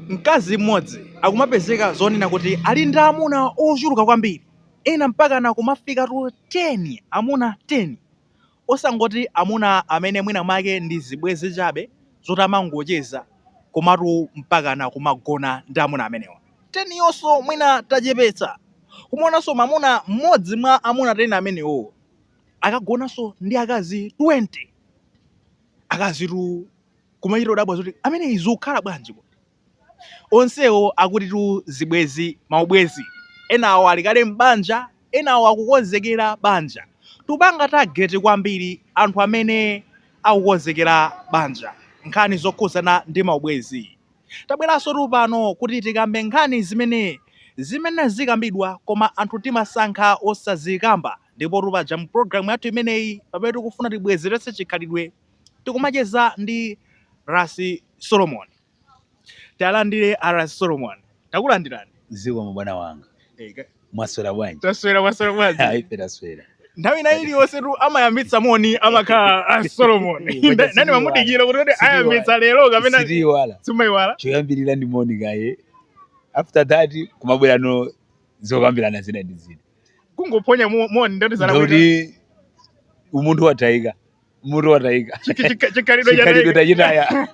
Mkazi mmodzi akumapezeka zonena kuti ali ndi amuna ochuluka kwambiri, ena mpakana kumafikatu 10, amuna 10. Osangoti amuna amene mwinamwake ndi zibwenzi chabe zoti amangocheza, komatu mpakana kumagona ndi amuna amenewa 10 yonse. Mwina tachepetsa kumaonanso mwamuna mmodzi mwa amuna 10 amenewo akagonanso ndi akazi 20. Akazitu! kumachita kudabwa zoti ameneyi zikukhala bwanji kodi? Onsewo akutitu zibwenzi, maubwenzi. Enawo ali kale m'banja, enawo akukonzekera banja. Tikupanga target kwambiri anthu amene akukonzekera banja, nkhani zokhudzana ndi maubwenzi. Tabweransotu pano kuti tikambe nkhani zimene zimene sizikambidwa koma anthu timasankha osazikamba. Ndipotu paja mu program yathu imeneyi, pamene tikufuna tibwezeretse chikhalidwe tikumacheza ndi Ras Solomon. Tiwalandire a Ras Solomon. Takulandirani. Zikomo bwana wanga. Mwaswera bwanji? Taswera mwaswera bwanji? Aife taswera. Nthawi ina iliyonsetu amayambitsa moni amakhala a Solomon. Nda- Nane ndimangodikira kuti kuti ayambitsa lero kapena Sitiiwala. sumaiwala? Choyambirira ndi moni kaye. After that kumabwerano zokambirana zina ndi zina. Kungophonya mo- moni ndiye kuti zalakwika. Ndiye kuti umunthu watayika. Umunthu watayika Chi- chi- chi- chikhalidwe chikhalidwe chatayika tachitaya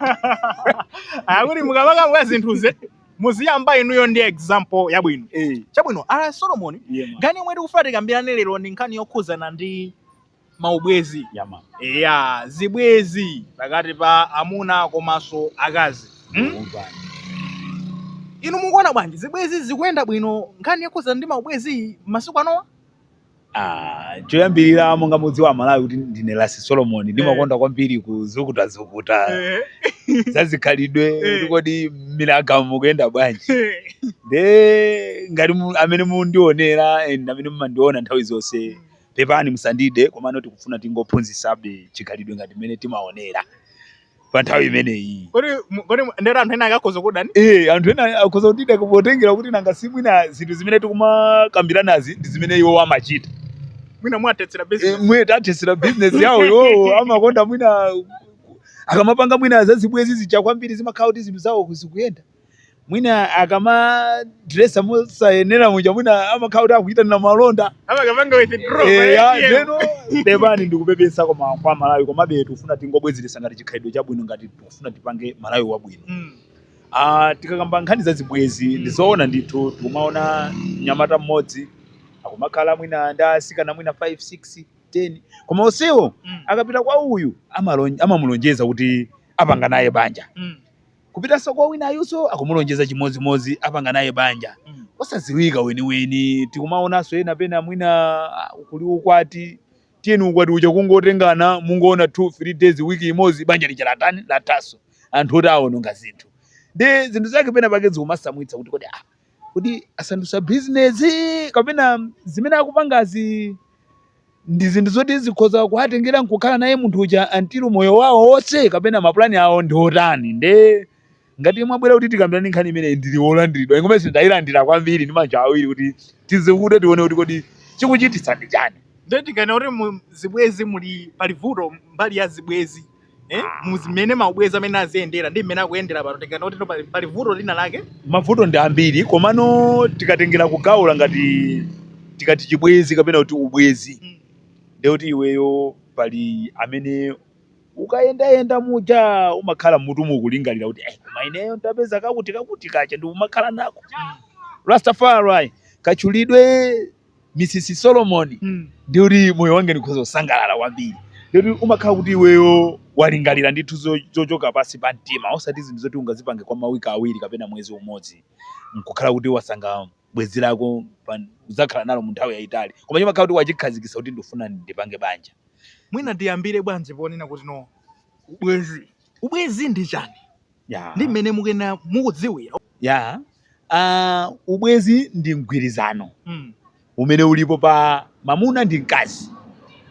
akuti mukamakamba zinthuzi muziyamba inuyo ndi example yabwino Eh, chabwino a Ras Solomon yeah, man. nkhani yomwe tikufuna tikambirane lero ndi nkhani yokhuzana ndi maubwezi Yeah, man. eya zibwezi pakati pa amuna komanso akazi hmm? Umva. inu mukuona bwanji zibwezi zikuyenda bwino nkhani yokhuzana ndi maubwezi masiku anowa Ah, choyambirira monga mukudziwa amalawi kuti ndine Ras Solomon ndimakonda kwambiri kuzukutazukuta zazikhalidwe Eh. kuti kodi mmiraga mukuyenda bwanji nde ngati mu- amene mukundionera and amene mumandiona nthawi zonse pepani musandide komano tikufuna tingophunzisabe chikhalidwe ngati mmene timaonera pa nthawi imeneyi kodi mu- kodi mu- ndekuti anthu ena akhoza kudana Eh, anthu ena akhoza kutida potengera kuti nanga si mwina zinthu zimene tikumakambiranazi ndi zimene iwo amachita mwina mwawathetsera Eh, business mwina tathetsera business yawo iwowo amakonda mwina akamapanga mwina zazibwezi zija kwambiri zimakhala kuti zinthu zawo zikuyenda mwina akamadresa mosayenera muja mwina amakhala kuti akuyitanira malonda amakapanga withdraw Eh, ya, pa ATM. ndiyeno pepani ndikupepesa koma kwa aMalawi komabe tikufuna tingobwezeretsa ngati chikhalidwe chabwino ngati tikufuna tipange malawi wabwino Mm. Ah, tikakamba nkhani za zibwezi Mm. ndizoona ndithu tikumaona mnyamata mmodzi akumakhala mwina ndi asikana mwina 5 6 10 koma onsewo Mm. akapita kwa uyu amalon- amamulonjeza kuti apanga naye banja Mm. kupitanso kwa wina ayuso akumulonjeza chimodzimodzi apanga naye banja Mm. osaziwika weniweni tikumaonanso ena pena mwina ah, kuli ukwati tiyeni ukwati uja kungotengana mungoona 2 3 days wiki imodzi banja lija latani lathaso anthu oti awononga zinthu ndi zinthu zake pena pake zikumasamwitsa kuti kodi ah, kodi asandusa business kapena zimene akupangazi ndi zinthu zoti zikhoza kuwatengera nkukhala naye munthu uja until moyo wawo wonse kapena mapulani awo ndi otani nde ngati mwabwera kuti tikambirane nkhani imene ndinu wolandiridwa ingomenenso ndayilandira kwambiri ndi manja awiri kuti tizikute tione kuti kodi chikuchititsa ndi chani nde tikanena kuti mu zibwezi muli pali vuto mbali ya zibwezi eh, muzimene maubwezi amene aziyendera ndi mmene akuyendera pano tikanena kuti pali, pali vuto lina lake mavuto ndi ambiri komano tikatengera kugawula ngati tikati chibwezi kapena kuti ubwezi Mm. ndiye kuti iweyo pali amene ukayendayenda muja umakhala mmutumu kulingalira kuti "Eh, koma ineyo ndapeza kakuti kakuti kaja ndi umakhala nako Rastafari katchulidwe Mrs. Solomon mm. ndi kuti moyo wange ndikhoza kusangalala kwambiri ndikuti umakhala kuti iweyo walingalira ndithu zochoka pansi pa mtima osati zinthu zoti ungazipange kwa mawiki awiri kapena mwezi umodzi nkukhala kuti wasankha bwezi lako uzakhala nalo mu nthawi yayitali koma chimakhala kuti wachikhazikisa kuti ndifuna ndipange banja mwina tiyambire bwanji ponena kuti no ubwezi ubwezi ndi chani yeah. ndi mmene mukunena mukudziwira yeah. uh, ubwezi ndi mgwirizano mm. umene ulipo pa mamuna ndi mkazi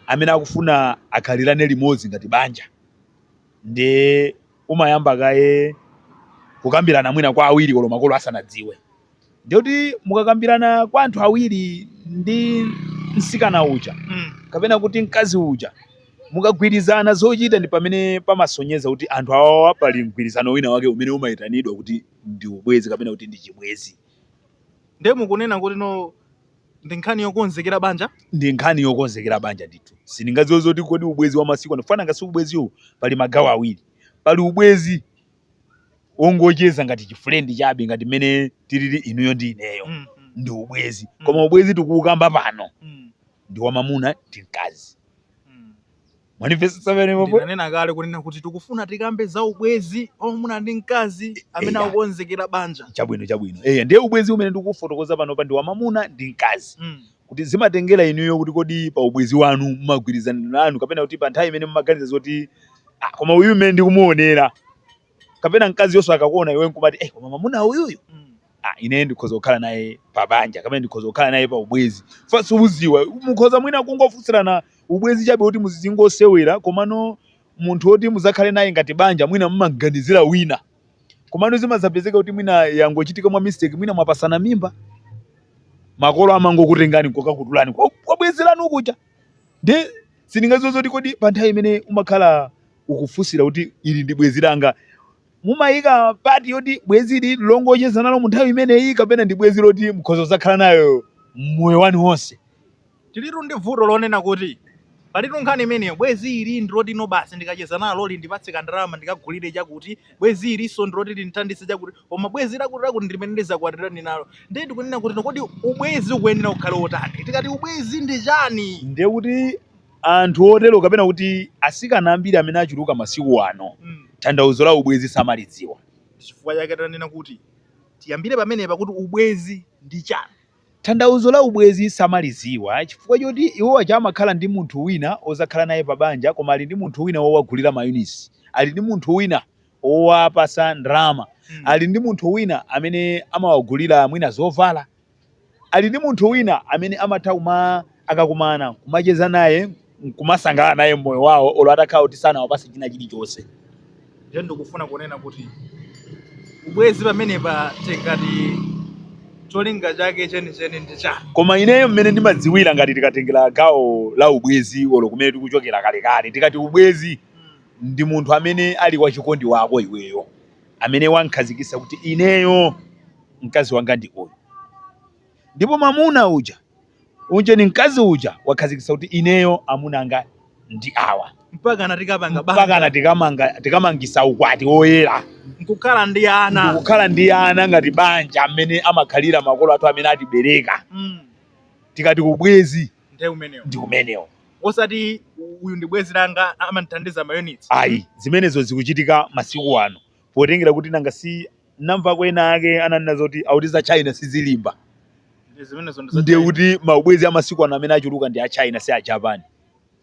amene akufuna akhalirane limodzi ngati banja ndi umayamba kaye kukambirana mwina kwa awiri kolo makolo asanadziwe ndiye kuti mukakambirana kwa anthu awiri ndi msikana uja Mm. kapena kuti mkazi uja mukagwirizana zochita ndi pamene pamasonyeza kuti anthu awawa pali mgwirizano wina wake umene umayitanidwa kuti ndi ubwezi kapena kuti ndi chibwezi ndiye mukunena kuti no ndi nkhani yokonzekera banja ndi nkhani yokonzekera banja ndithu sindingadziwe zoti kodi ubwezi wa masiku ano chifukwa nanga si ubweziwu pali magawo awiri pali ubwezi wongocheza ngati chifulendi chabe ngati mmene tilili inuyo ndi ineyo Mm, mm, ndi ubwezi Mm. koma ubwezi tikuukamba pano mm, ndi wa mamuna ndi mkazi mm. mwanimvetsetsa pamene pompo ndinanena kale kunena kuti tikufuna tikambe za ubwezi wamamuna ndi mkazi amene Eya. akukonzekera banja chabwino chabwino eya ndiye ubwezi umene ndikufotokoza panopa ndi wa mamuna ndi mkazi Mm, kuti zimatengera inuyo kuti kodi pa ubwezi wanu mumagwirizana anu kapena kuti pa nthawi imene mumaganiza zoti ah, koma uyu mmene ndikumuonera kapena mkaziyonso akakuona iwe nkumati eh, koma mamuna uyuyu ah, ine ndikhoza kukhala naye pa banja kapena ndikhoza kukhala naye pa ubwezi fanso uziwa mukhoza mwina kungofunsirana ubwezi chabe kuti muzizingosewera komano munthu woti muzakhale naye ngati banja mwina mumaganizira wina komano zimadzapezeka kuti mwina yangochitika mwa mistake mwina mwapasana mimba makolo amangokutengani kokakutulani kwa- kwa bwezi lanu kuja nde sindingadziwe zoti kodi pa nthawi imene umakhala ukufunsira kuti ili ndi bwezi langa mumayika pati yoti bwezi ili longocheza nalo mu nthawi imeneyi kapena ndi bwezi loti mukhoza kuzakhala nalo moyo wanu wonse Tilitu ndi vuto lonena kuti, Palitu nkhani imeneyo, bwezi ili ndi loti no basi, ndikacheza nalo lindipatse kandalama ndikagulire chakuti, bwezi ilinso ndiloti lindithandize chakuti, koma bwezi lakuti ndi limene ndidzakwatirane nalo. Ndiye ndikunena kuti, kodi ubwezi ukuyenera ukhale wotani? Tikati ubwezi ndi chani? Ndiye kuti anthu otero kapena kuti atsikana ambiri amene achuluka masiku ano, Mm. tanthauzo la ubwezi samalidziwa. Ndi chifukwa chake tanena kuti tiyambire pamenepa kuti ubwezi ndi chani. Tanthauzo la ubwezi samaliziwa chifukwa choti iwo aja amakhala ndi munthu wina ozakhala naye pa banja koma ali ndi munthu wina owagulira ma units, ali ndi munthu wina owapasa ndalama, ali ndi munthu wina amene amawagulira mwina zovala, ali ndi munthu wina amene amatha kuma- akakumana kumacheza naye. nkumasangalala naye mmoyo wawo olo atakhala kuti sanawapase china chilichonse nde ndikufuna kunena kuti ubwezi pamenepa tikati cholinga chake chenicheni ndi chani koma ineyo mmene ndimadziwira ngati tikatengera gawo la ubwezi olo kumene tikuchokera kalekale tikati ubwezi ndi munthu amene ali wachikondi wako iweyo amene wamkhazikisa kuti ineyo mkazi wanga ndi uyu ndipo mamuna uja Unjeni mkazi uja wakhazikitsa kuti ineyo amuna anga ndi awa mpakana tikapanga mpakana banja tikamanga tikamangisa ukwati woyera nkukhala ndi ana ndikukhala ndi ana ngati banja mmene amakhalira makolo athu amene atibereka Mm, tikati ubwezi ndiye umenewo ndi umenewo osati uyu ndi bwezi langa amandithandiza mayunitsi ayi zimenezo zikuchitika masiku ano potengera kuti nanga si ndamvako enaake ananena zoti akuti za china sizilimba Ndi zimenezo ndi za ndiye China. kuti maubwezi a masiku ano amene achuluka ndi a china si a japan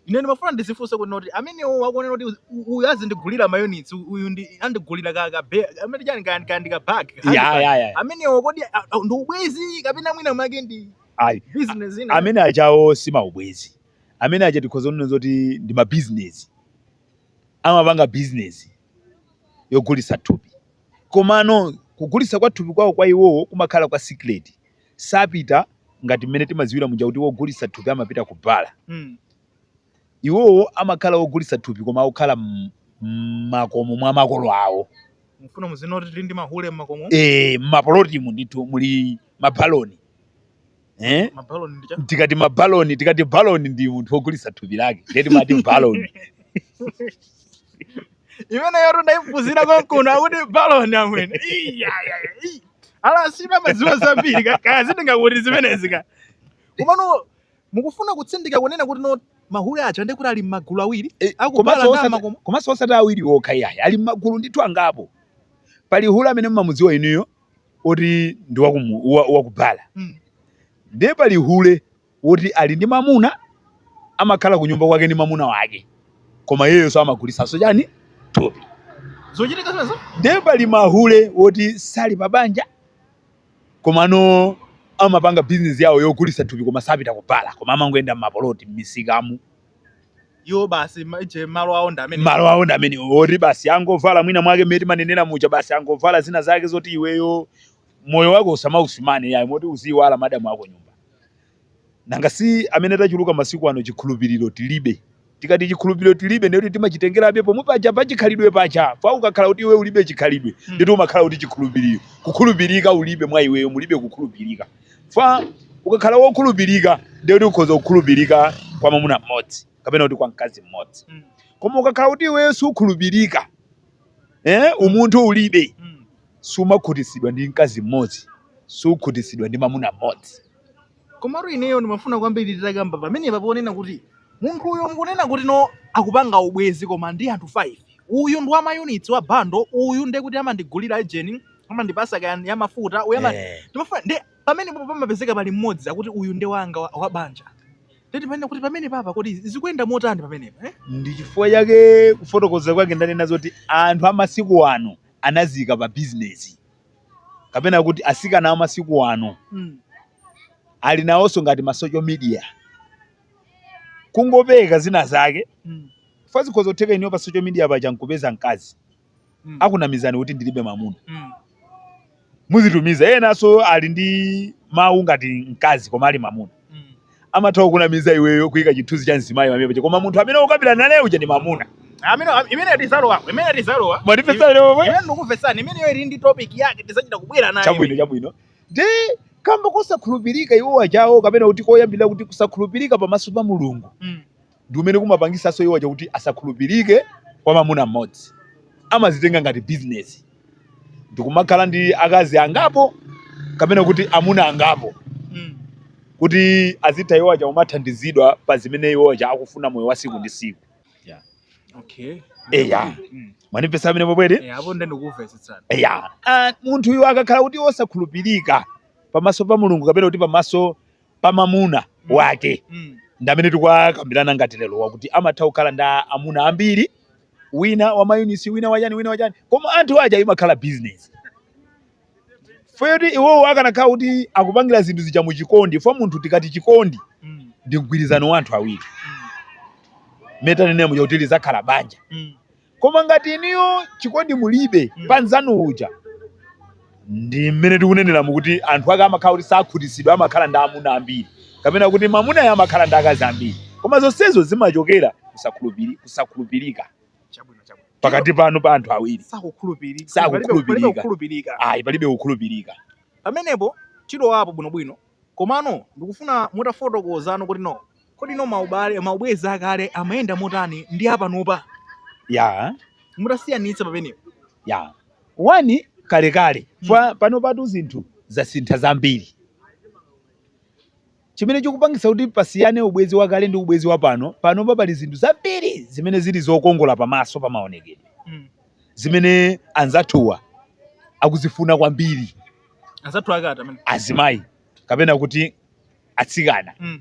ine ndimafuna ndizifunse kuti no oti amenewo akuonera kuti uzi- u- uyu azindigulira mayunitsi uyu ndi wondigulira ka ka be- amene chani ka ka ndi ka bag ka ya handbag. ya ya amenewo kodi a- a- ndi ubwezi kapena mwina mwake ndi ayi business ina amene ajawo si maubwezi amene aja tikhoza kunena zoti ndi mabizinesi amapanga bizinesi yogulitsa thupi Komano kugulitsa kwa thupi kwawo kwa iwowo kumakhala kwa sikileti. Sapita ngati mmene timadziwira muja kuti wogulitsa thupi amapita ku bala. Iwowo amakhala ogulitsa thupi koma akukhala mmakomo mwa makolo awo. Mukufuna muzinene kuti tili ndi mahule mmakomo? Eee, mmapulotimu ndithu muli mabaloni. eh? mabaloni ndicha tikati mabaloni tikati baloni ndi munthu wogulitsa thupi lake ndiye timati baloni imeneyo ndaiphunzira konkuno akuti baloni amwene Iya, ya, ya, iyi. ala sindimadziwa zambiri ka- kaya zinthu ngati zimenezi ka komano mukufuna kutsindika kunena kuti no mahule aja ndi kuti ali m'magulu awiri Eh, Akubala komanso ndama osati- koma- komanso osati awiri okha iyayi ali m'magulu ndithu angapo pali hule amene mumamudziwa inuyo oti ndi wakumu- wa- wakubala Mm. ndiye pali hule woti ali ndi mamuna amakhala ku nyumba kwake ndi mamuna wake koma iyeyonso amagulitsanso chani thupi zochitika zimenezo ndiye pali mahule woti sali pa banja komano amapanga bizinesi yawo yogulitsa thupi koma sapita kubala koma amangoyenda m'mapoloti m'misikamu iwo basi ma- je malo awo ndi amene malo awo ndi amene oti basi angovala mwina mwake mmene timanenera muja basi angovala zina zake zoti iweyo moyo wako usamausimbe yayi moti uziyiwala madamu ako kunyumba nanga si amene tachuluka masiku ano chikhulupiriro tilibe tikati chikhulupiriro tilibe ndiye kuti timachitengerabe pomwe paja pachikhalidwe paja fa ukakhala kuti iwe ulibe chikhalidwe Mm. ndiye kuti umakhala kuti chikhulupiriro kukhulupirika ulibe mwa iweyo mulibe kukhulupirika fa ukakhala wokhulupirika ndiye kuti ukhoza kukhulupirika kwa mwamuna mmodzi kapena kuti kwa mkazi mmodzi Mm. koma ukakhala kuti iweyo sukhulupirika eh, umunthu ulibe Mm. sumakhutitsidwa ndi mkazi mmodzi sukhutitsidwa ndi mwamuna mmodzi komatu ineyo ndimafuna kwambiri titakamba pamenepa ponena kuti munthu uyu mukunena kuti no akupanga ubwenzi koma ndi anthu 5 uyu ndi wa mayunitsi wa bando uyu ndiye kuti amandigulira ejeni amandipasa kaya ya mafuta uyu amati Eh. ndimafuna ndi pamenepo pamapezeka pali mmodzi akuti uyu ndi wanga wa- wa banja ndiye timanena kuti pamenepa kodi zikuyenda motani pamenepa eh? ndi chifukwa chake kufotokoza kwake ndanena zoti anthu amasiku ano anaziika pa bizinesi kapena kuti asikana amasiku ano mm. ali nawonso ngati ma social media kungopeza zina zake mm. fa zikhoza kutheka inuyo pa social media paja nkupeza mkazi mm. akunamizani kuti ndilibe mamuna mm. muzitumiza enanso ali ndi mawu ngati mkazi koma ali mamuna mm. amatha kunamiza iweyo kuika chithunzi cha mzimayi pamene paja koma munthu amene ukambirana naye uja ndi mamuna amene imene tizalowa imene tizalowa mwatipatsa lero imene ndikuletsani imeneyo ili ndi topic yake tizachita kubwera nayo chabwino chabwino ndi kamba kosakhulupirika iwo ajawo kapena kuti koyambirira kuti kusakhulupirika pamaso pa mulungu mm. ndi kumene kumapangisanso iwo aja kuti asakhulupirike kwa mamuna mmodzi amazitenga ngati bizinesi ndikumakhala ndi akazi angapo kapena kuti amuna angapo Mm. kuti azitha iwo aja kumathandizidwa pa zimene iwo aja akufuna moyo wa siku ndi siku Okay. eya Mm. mwandimvetsa mmene mwabwere Eh, apo ndiye tikumvetsetsana. eya Ah, munthu uyu akakhala kuti wosakhulupirika pamaso pa mulungu kapena kuti pamaso pa mamuna mm. wake mm. ndi amene tikuwakambilana ngati lero wakuti amatha kukhala ndi amuna ambiri wina wa mayunisi wina wachani wina wachani koma anthu aja imakhala business foti iwowo akanakhala kuti akupangira zinthu zija mu chikondi fo munthu tikati chikondi mm. ndi mgwirizano wa anthu awiri mm. mene tanenemo yakuti lizakhala banja mm. Koma ngati inuyo chikondi mulibe Mm. pa mnzanu uja ndi mmene tikuneneramu kuti anthu ake amakhala kuti sakhutitsidwa amakhala ndi amuna ambiri kapena kuti mamunayo amakhala ndi akazi ambiri koma zonsezo zimachokera kusakhulupirika Chabwino, chabwino. pakati panu pa anthu awiri sakukhulupirika Sakukhulupirika. Palibe- palibe kukhulupirika ayi palibe kukhulupirika pamenepo tilowapo bwinobwino komano ndikufuna mutafotokozano kuti no Kodi no maubwezi akale amayenda motani ndi apanopa? Ya. Mutasiyanitsa pamenepo. Ya. One, kalekale chifukwa panopatu zinthu zasintha zambiri. Chimene chikupangitsa kuti pasiyane ubwezi wakale ndi ubwezi wapano, panopa pali zinthu zambiri zimene zili zokongola pamaso pa maonekedwe zimene anzathuwa akuzifuna kwambiri, Anzathu ake ati amene? azimayi kapena kuti atsikana mm.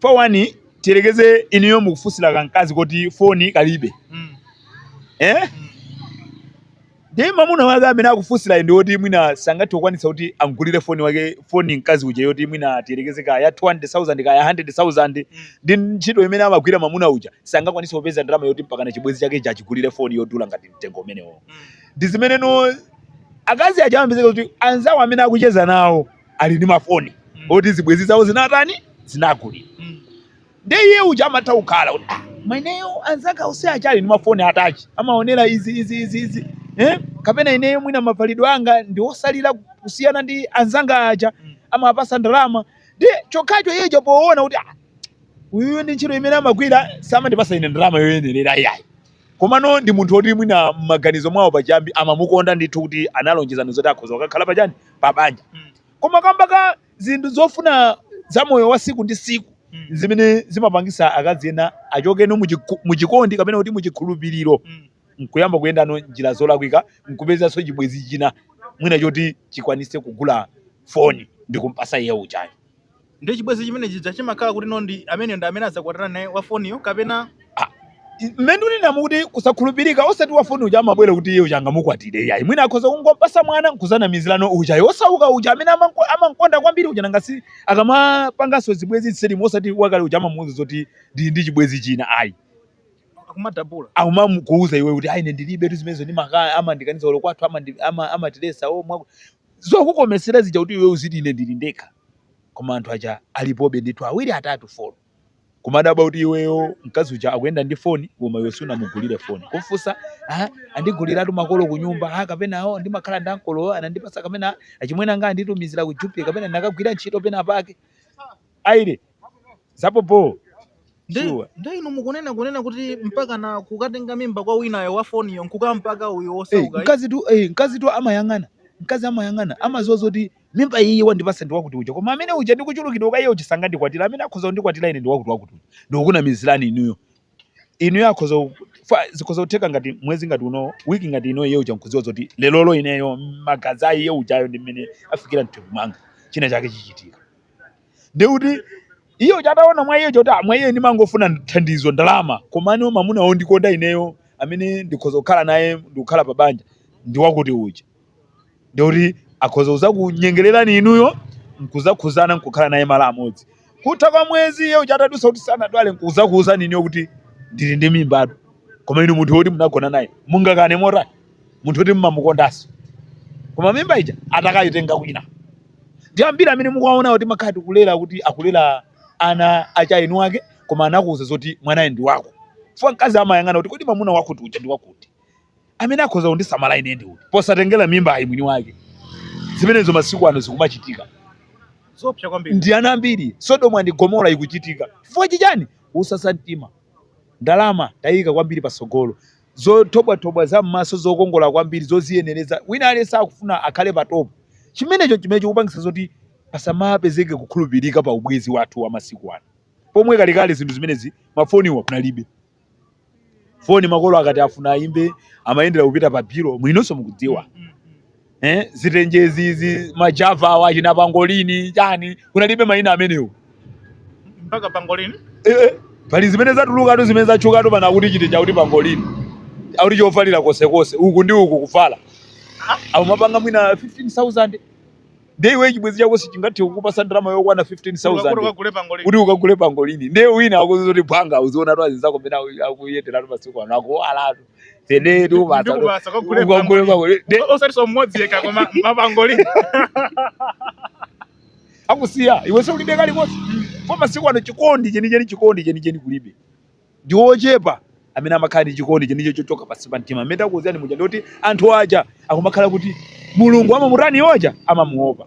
for one tiyerekeze inuyo mukufunsira kankazi koti foni kalibe mm. eh? mm. ndiye mamuna wake amene akufunsirayo ndi woti mwina sangathe kukwanitsa kuti angulire foni mkazi uja yoti mwina tiyerekeze kaya 200000 kaya 100000 mm. ndi ntchito imene amagwira mamuna uja sangakwanitse kupeza ndalama yoti mpakana chibwenzi chake chija achigulire foni yodula ngati mtengo umenewo mm. ndi zimene no akazi aja amapezeka kuti anzawo amene akucheza nawo ali ndi mafoni mm. oti zibwezi zawo zinatani zinagulira mm. nde iye uja amatha kukhala kuti ah, mwina ineyo anzanga onse aja ali ndi mafoni atachi amaonera izi izi izi izi eh? kapena ineyo mwina mavalidwe anga ndi osalira kusiyana ndi anzanga aja mm. amapasidwa ndalama ndi chokhacho iye uja poona kuti ah, uyu ndi ntchito imene amagwira samandipasa ine ndalama yoyenerera iyayi Komano ndi munthu oti mwina m'maganizo mwawo pachiyambi amamukonda ndithu kuti analonjezana zoti akhoza kukakhala pa chani? Pa banja. Koma kamba ka zinthu zofuna za moyo wa siku ndi siku n'zimene zimapangisa akazi ena achokeno mu mu chikondi kapena kuti mu chikhulupiliro n'kuyamba kuyendano njira zolakwika n'kupezanso chibwenzi china mwina choti chikwanise kugula foni ndikumpasa iye ujayo. Ndiye chibwezi chimene chija chimakhala kuti no ndi amene ndi amene azakwatana naye wa foniyo kapena ah, mmene unena mukuti kusakhulupirika osati wa foni uja amabwera kuti iye uja angamukwatire yayi mwina akhoza kungompasa mwana nkuzanamizirano uja yosauka uja amene amankonda kwambiri uja nanga si akamapanganso zibwenzi za m'seri osati wakale uja amamuuza zoti ndi ndi chibwezi china ayi akumadabula akumamukuuza iwe kuti ayi ndilibe tu zimenezo ndi makaya amandikaniza olo kwathu amatilesa ama, ama, o zokukomesera zija kuti iwe uziti ine ndili ndekha koma anthu aja alipobe ndithu awiri atatu folo kumadabwa kuti iweyo mkazi uja akuyenda ndi foni koma iwe sunamugulire foni kumfunsa "Ah, andiguliratu makolo kunyumba ah, kapena awo ndimakhala ndi ankolo anandipasa kapena achimwene anga anditumizira ku jupi kapena ndinakagwira ntchito pena pake aire zapo po nde inu mukunena kunena kuti mpaka na kukatenga mimba kwa winayo wa foniyo nkukampaka uyo eh osaukayo mkazi tu eh mkazi tu amayang'ana mkazi amayang'ana amaziwa zoti mimba iyi wandipasa ndi wakuti uja koma amene uja ndikuchulukidwa ukaiye uchisanga ndikwatira amene akhoza kundikwatira ine ndi wakuti wakuti uja ndikunamizirani inuyo inuyo akhoza ku- fa- zikhoza kutheka ngati mwezi ngati uno wiki ngati ino iye uja nkudziwa zoti lerolo ineyo magazi a iye ujayo ndi mmene afikira mthupi mwanga china chake chichitika ndi kuti iye uja ataona mwa iye choti "Ah, mwa iye ndimangofuna thandizo ndalama komano mamuna wondikonda ineyo amene ndikhoza kukhala naye ndikukhala pa banja ndi wakuti uja ndi kuti akhoza kuzakunyengererani inuyo nkuzakhuzana nkukhala naye malo amodzi kutha kwa mwezi iye uja atadutsa kuti sanadwale nkuzakuuzani inuyo kuti ndili ndi mimbatu koma inu munthu woti munagona naye mungakane motani munthu woti mmamukondanso koma mimba ija atakayitenga kwina ndi ambiri amene mukuwaona kuti amakhala akulera kuti akulera ana a eni ake koma anakuuza zoti mwanayu ndi wako chifukwa mkazi amayang'ana kuti kodi mwamuna wakuti uja ndi wakuti amene akhoza kundisamala ine ndi uti posatengera mimbayi mwini wake zimenezo masiku ano zikumachitika zopsa kwambiri ndi ana ambiri sodoma ndi gomora ikuchitika chifukwa chichani uuma mtima ndalama tayika kwambiri pasogolo zothobwathobwa za m'maso zokongola kwambiri zoziyenereza wina aliyense akufuna akhale patopo chimenecho chimene chikupangisa zoti pasamapezeke kukhulupirika pa ubwezi wathu wa masiku ano pomwe kalekale zinthu zimenezi mafoniwa kunalibe foni makolo akati afuna ayimbe amayendera kupita pa biro mwinonso mukudziwa eh, zitenjezi izi majava awa achina pangolini chani kunalibe mayina amenewo mpaka pangolini eh, eh, pali zimene zatulukatu zimene zatchukatu pano akuti chitenje akuti pangolini akuti chovalira konsekonse uku ndi uku kuvala amapanga mwina 15000 ndiye iwe chibwenzi chako sichingathe kukupasa ndalama yokwana 15000 kuti ukagule pangolini ndiye wina akuuza zoti mbwanga uzionatu azinzako mene akuyenderatu masiku ano akuwalatu tenetu ukagule pangolini akusiya iwe ulibe kalikonse kwa masiku ano chikondi chenicheni chikondi chenicheni kulibe Ndi ochepa amene amakhala ndi chikondi chenicheni chochoka pansi pa mtima. Mmene ndakuuzirani muja ndikuti anthu aja akumakhala kuti Mulungu amamutani? Iwo aja amamuopa.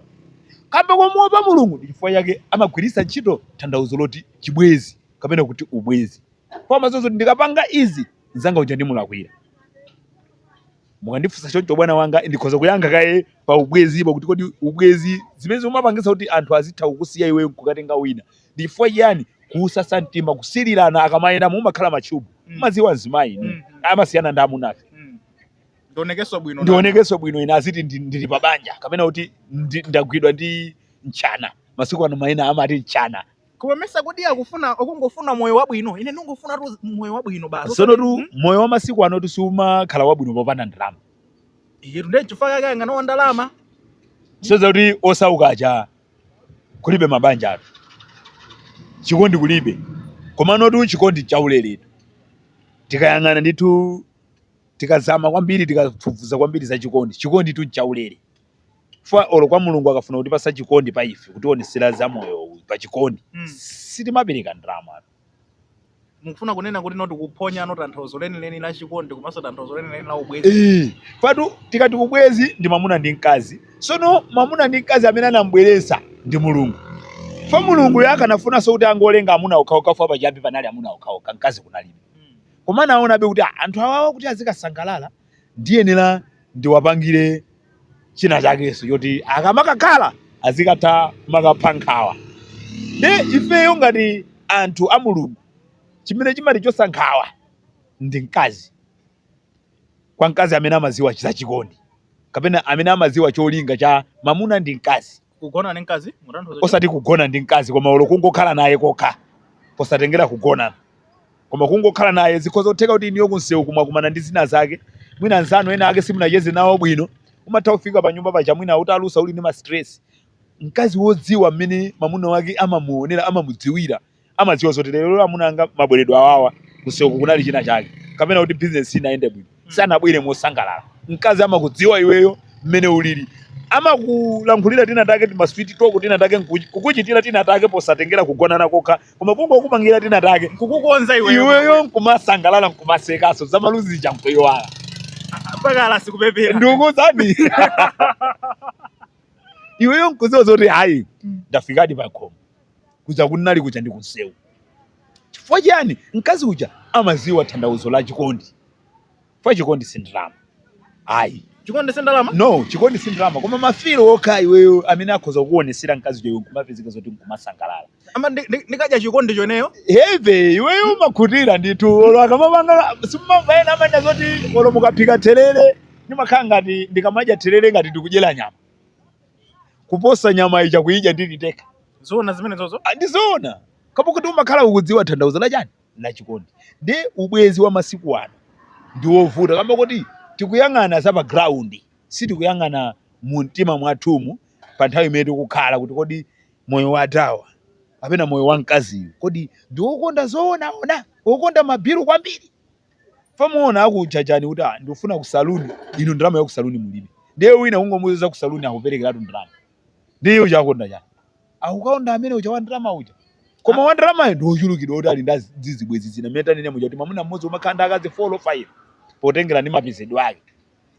Kamba komuopa Mulungu ndi chifukwa chake amagwiritsa ntchito tanthauzo loti chibwenzi kapena kuti ubwenzi. Koma amadziwa zoti ndikapanga izi mzanga uja ndimulakwira. Mukandifunsa choncho bwana wanga ndikhoza kuyankha kaye pa ubwenzipo kuti kodi ubwenzi zimene zimapangitsa kuti anthu azitha kukusiya iweyo nkukatenga wina ndi chifukwa chiyani kusasa mtima kusilirana akamayenda mumakhala matchubu Mm. umaziwa mzimayi Mm. amasiyana ndi amunafe Mm. ndionekenso bwino ndionekenso bwino ine aziti ndi- ndili pa banja kapena kuti ndi- ndagwidwa ndi mtchana masiku ano maina amati mtchana koma mesa kodi akufuna akungofuna moyo wabwino ine ndingofuna tu moyo wabwino basi sono tu Mm. moyo wa masiku ano siumakhala wabwino popanda ndalama iyetu nde chifukwa chake anganawa ndalama moti kuti osauka aja kulibe mabanjatu chikondi kulibe komano tu chikondi nchauleretu tikayang'ana ndithu tikazama kwambiri tikafufuza kwambiri za chikondi chikonditu nchaulere chifukwa olo kwa mulungu akafuna kutipasa chikondi pa ife kutionesera za moyo uyu pa chikondi Mm. sitimapereka ndalamatu mukufuna kunena kuti tikuphonyano tanthauzo lenileni la chikondi komanso tanthauzo lenileni la ubwezi eh, patu tikati ubwezi ndi mwamuna ndi mkazi sono mwamuna ndi mkazi amene anambweretsa ndi mulungu fo mulunguyo akanafunanso kuti angolenga amuna okhaokha fo pachiyambi panali amuna okhaokha mkazi kunalibe hmm. koma naonabe kuti ah, anthu awawa kuti azikasangalala ndiyenera ndiwapangire china chakenso choti akamakakhala azikatha kumakapha nkhawa nde ifeyo ngati anthu a mulungu chimene chimatichotsa nkhawa ndi mkazi kwa mkazi amene amaziwa za chikondi kapena amene amaziwa cholinga cha mamuna ndi mkazi kugona ndi mkazi mutanthauza chani? osati kugona ndi mkazi koma olo kungokhala naye kokha posatengera kugonana koma kungokhala naye zikhoza kutheka kuti inuyo kunsewu mwakumana ndi zina zake mwina anzanu ena ake simunacheze nawo bwino umatha kufika pa nyumba paja mwina utalusa uli ndi ma stress mkazi wodziwa mmene mamuna wake amamuonera amamudziwira amadziwa zoti lero amuna anga mabweredwe awawa kunseuku kunali china chake kapena kuti bizinesi sinayende bwino sanabwere mosangalala mkazi amakudziwa iweyo mmene ulili amakulankhulira tina take timasweet talk tina take nkuchi- kukuchitira tina take posatengera kugonana kokha koma kungokupangira tina take kukukonza iweyo nkumasangalala nkumasekaso zamaluzi chani nkuyiwala mpakana ukupepera ndikukudziwani iweyo nkuziwa zoti hayi ndafikadi pakhomo kuja kunali kuja ndi kunsewu chifukwa chiyani mkazi uja amaziwa thandauzo la chikondi fa chikondi si ndalama ayi chikondi si ndalama no chikondi si ndalama koma mafilo okha iweyo amene akhoza kukuonesera mkazi uja iwe nkumapezeka zoti nkumasangalala ama ndi- ndi- ndikadya chikondi chenicheni heve iweyo umakhutira ndithu olo akamapanga simumamva ena amanena zoti olo mukaphika therere ndimakhala ngati ndikamadya therere ngati ndikudyera nyama kuposa nyama ija kuyidya ndili ndekha zoona zimene zozo Ah, ndi zoona kamba koti umakhala ukudziwa thandauzo la chani la chikondi ndi ubwenzi wa masiku ano ndi wovuta kamba koti tikuyang'ana za pa ground sitikuyang'ana mu mtima mwathumu pa nthawi imene tikukhala kuti kodi moyo wa awa kapena moyo wa mkaziyu kodi ndi wokonda zoona kapena wokonda mabiru kwambiri pamaona akujajani kuti ah, ndikufuna ku saloon inu ndalama ya ku saloon mulibe ndiye wina kungomuuza za ku saloon akuperekeratu ndalama ndiye uja akonda chani akukakonda amene uja wa ndalama uja koma wa ndalamayo ndi wochulukidwa kuti ali ndi zibwezi zina mmene tanene muja kuti mwamuna mmodzi umakhala ndi akazi 4 or 5 potengera ndi mapezedwe ake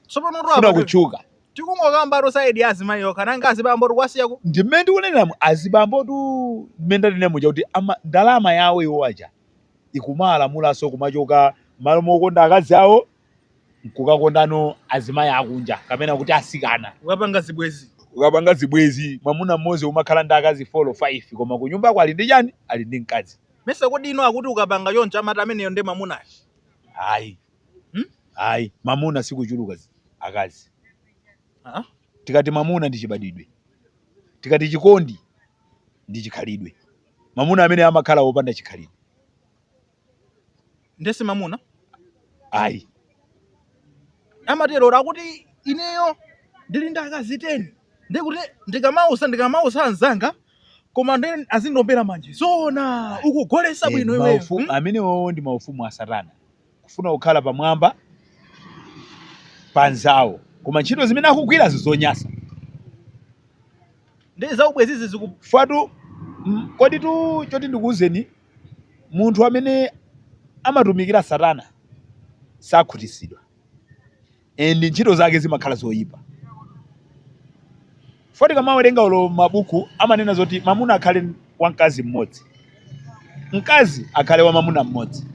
tsopano apa kutchula tikungokamba ku side ya azimayi yokha nanga azibambo tikuwasiyako ndi mmene ndikuneneramu azibambotu mmene tanene muja kuti ama- ndalama yawo iwo aja ikumawalamulanso kumachoka m'malo mokonda akazi awo n'kukakondano azimayi akunja kapena kuti atsikana. Kukapanga zibwenzi. Kukapanga zibwenzi, mwamuna mmodzi umakhala ndi akazi 4 or 5, koma kunyumbako ali ndi chani? Ali ndi mkazi. Mesa kodi inu akuti ukapanga choncha amati ameneyo nde mwamunayo? Ayi. Hmm? Ayi. Mamuna sikuchuluka akazi. Ah? Tikati mamuna ndi chibadwidwe. Tikati chikondi ndi chikhalidwe. mamuna amene amakhala wopanda chikhalidwe nde si mamuna ayi amatero akuti ineyo ndili ndi akazi teni ndiye kuti ndikamausa ndikamausa anzanga koma ndiye azindiombera manje zoona ukugolesa Eh, bwino iweyo maufu- hmm? amenewo ndi maufumu a satana kufuna kukhala pamwamba pa anzawo koma ntchito zimene akugwira nzonyasa ndi zaubwenzizi zikufatu mm, kodi tu choti ndikuwuzeni munthu amene amatumikira satana sakhutisidwa and ntchito zake zimakhala zoyipa fa tikamawerenga olo mabuku amanena zoti mamuna akhale wa mkazi mmodzi mkazi akhale wa mamuna mmodzi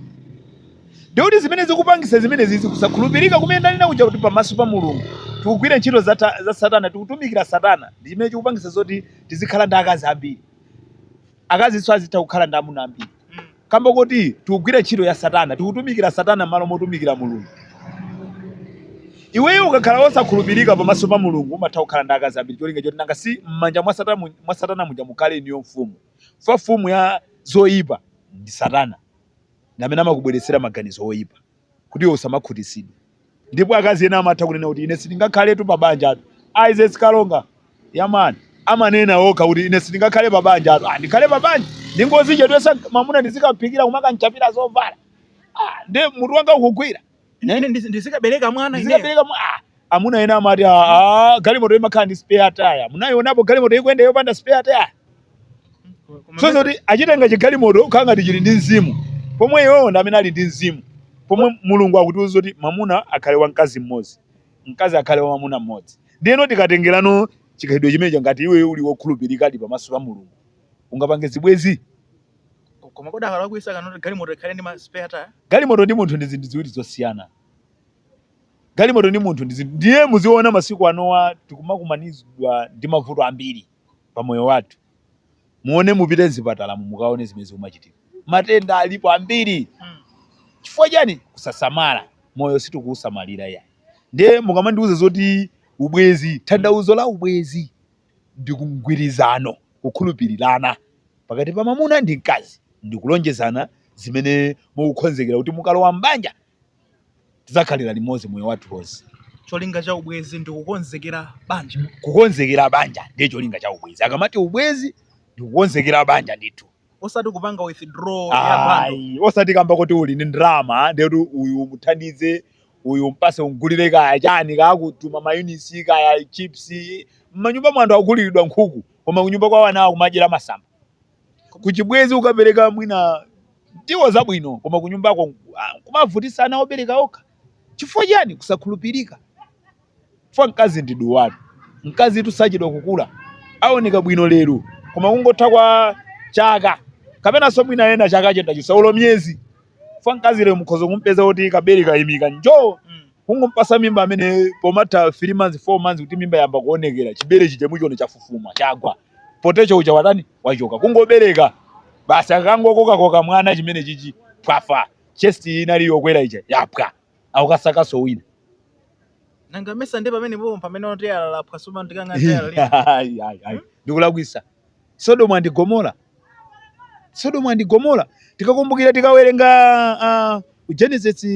ndikuti zimene zikupangisa zimenezi zikusakhulupirika kumene ndanena kuja kuti pamaso pa mulungu tikugwira ntchito za, ta- za satana tikutumikira satana ndi chimene chikupangisa zoti tizikhala ndi akazi ambiri akazinso azitha kukhala ndi amuna ambiri Kamba koti tikugwira ntchito ya satana, tikutumikira satana mmalo motumikira Mulungu. Iweyo ukakhala wosakhulupirika pamaso pa Mulungu umatha kukhala ndi akazi ambiri cholinga choti nanga si m'manja mwa satana, mu- mwa satana muja mukhale iyeyo mfumu. Fa mfumu ya zoyipa ndi satana ndi amene amakubweretsera maganizo oyipa. kuti iwe usamakhutitsidwe. Ndipo akazi ena amatha kunena kuti ine sindingakhaletu pa banjatu. Isaac Kalonga, yaman, amanena okha kuti ine sindingakhale pa banjatu. Ah, ndikhale pa banja, ndingodzichedwetsa mamuna ndizikaphikira kumakamuchapira zovala. Ah, nde mutu wanga ukugwira. Eh? Ine ndizi- ndizikabereka mwana ineyo. Ndizikabereka mwa- ah, amuna ena amati ah, ah, galimoto imakhala ndi spare tire. Munaionapo galimoto ikuyenda yopanda spare tire? Koma so zoti achitenga chigalimoto kukhala ngati chili ndi mzimu pomwe iwowo ndi amene ali ndi mzimu pomwe mulungu akutiuza kuti mamuna akhale wa mkazi mmodzi mkazi akhale wa mamuna mmodzi ndiyeno tikatengerano chikhalidwe chimenecho ngati iwe uli wokhulupirikadi pamaso pa mulungu ungapange zibwezi koma kodi akalakwitsa kunena kuti galimoto ikhale ndi ma spare tire? galimoto ndi munthu ndi zinthu ziwiri zosiyana galimoto ndi munthu ndi zinthu ndiye muziona masiku anowa tikumakumanizidwa ndi mavuto ambiri pa moyo wathu muone mupite mzipatalamu mukaone zimene zikumachitika matenda alipo ambiri chifukwa chani kusasamala moyo sitikuusamalira ya ndiye mukamandiuza zoti ubwezi tanthauzo la ubwezi ndi mgwirizano kukhulupirirana pakati pa mamuna ndi mkazi ndikulonjezana zimene mukukonzekera kuti mukalowa mbanja tidzakhalira limodzi moyo wathu wonse cholinga cha ubwezi ndi kukonzekera banja kukonzekera banja ndiye cholinga cha ubwezi akamati ubwezi ndi kukonzekera banja ndithu osati kupanga withdraw ya bundle Ayi, osati kamba kuti uli ndi ndalama ndiye kuti uyu umuthandize uyu umpatse umgulire kaya chani kaya kutuma mayunisi kaya chips mmanyumba mwa anthu akuguliridwa nkhuku koma kunyumba kwawo ana akumadyera masamba Kuchibwezi ukapereka mwina ndiwo zabwino koma kunyumbako ah, kumavutisa ana obereka okha chifukwa chiyani kusakhulupirika fa mkazi ndi duwa mkazitu sachedwa kukula aoneka bwino lero koma kungotha kwa chaka kapenanso mwina ena chaka chimenecho chisathe olo miyezi fa mkazi lero mukhoza kumpeza kuti kabere kaimika njo kungompatsa mimba amene pomatha 3 months 4 months kuti mimba yamba kuonekera chibere chija muchiona chafufuma chagwa poteto uja watani wachoka kungobereka basi akangokokakoka mwana chimene chichi pwafa chest inali yokwera ija yapwa akukasakaso wina nanga mesa ndi pamene popo pamene oteyala lapwa sumandikanga teyala lina Ai, ai, ai. ndikulakwisa sodomu andi gomora sodomu andi gomora tikakumbukira tikawerenga ah, genesis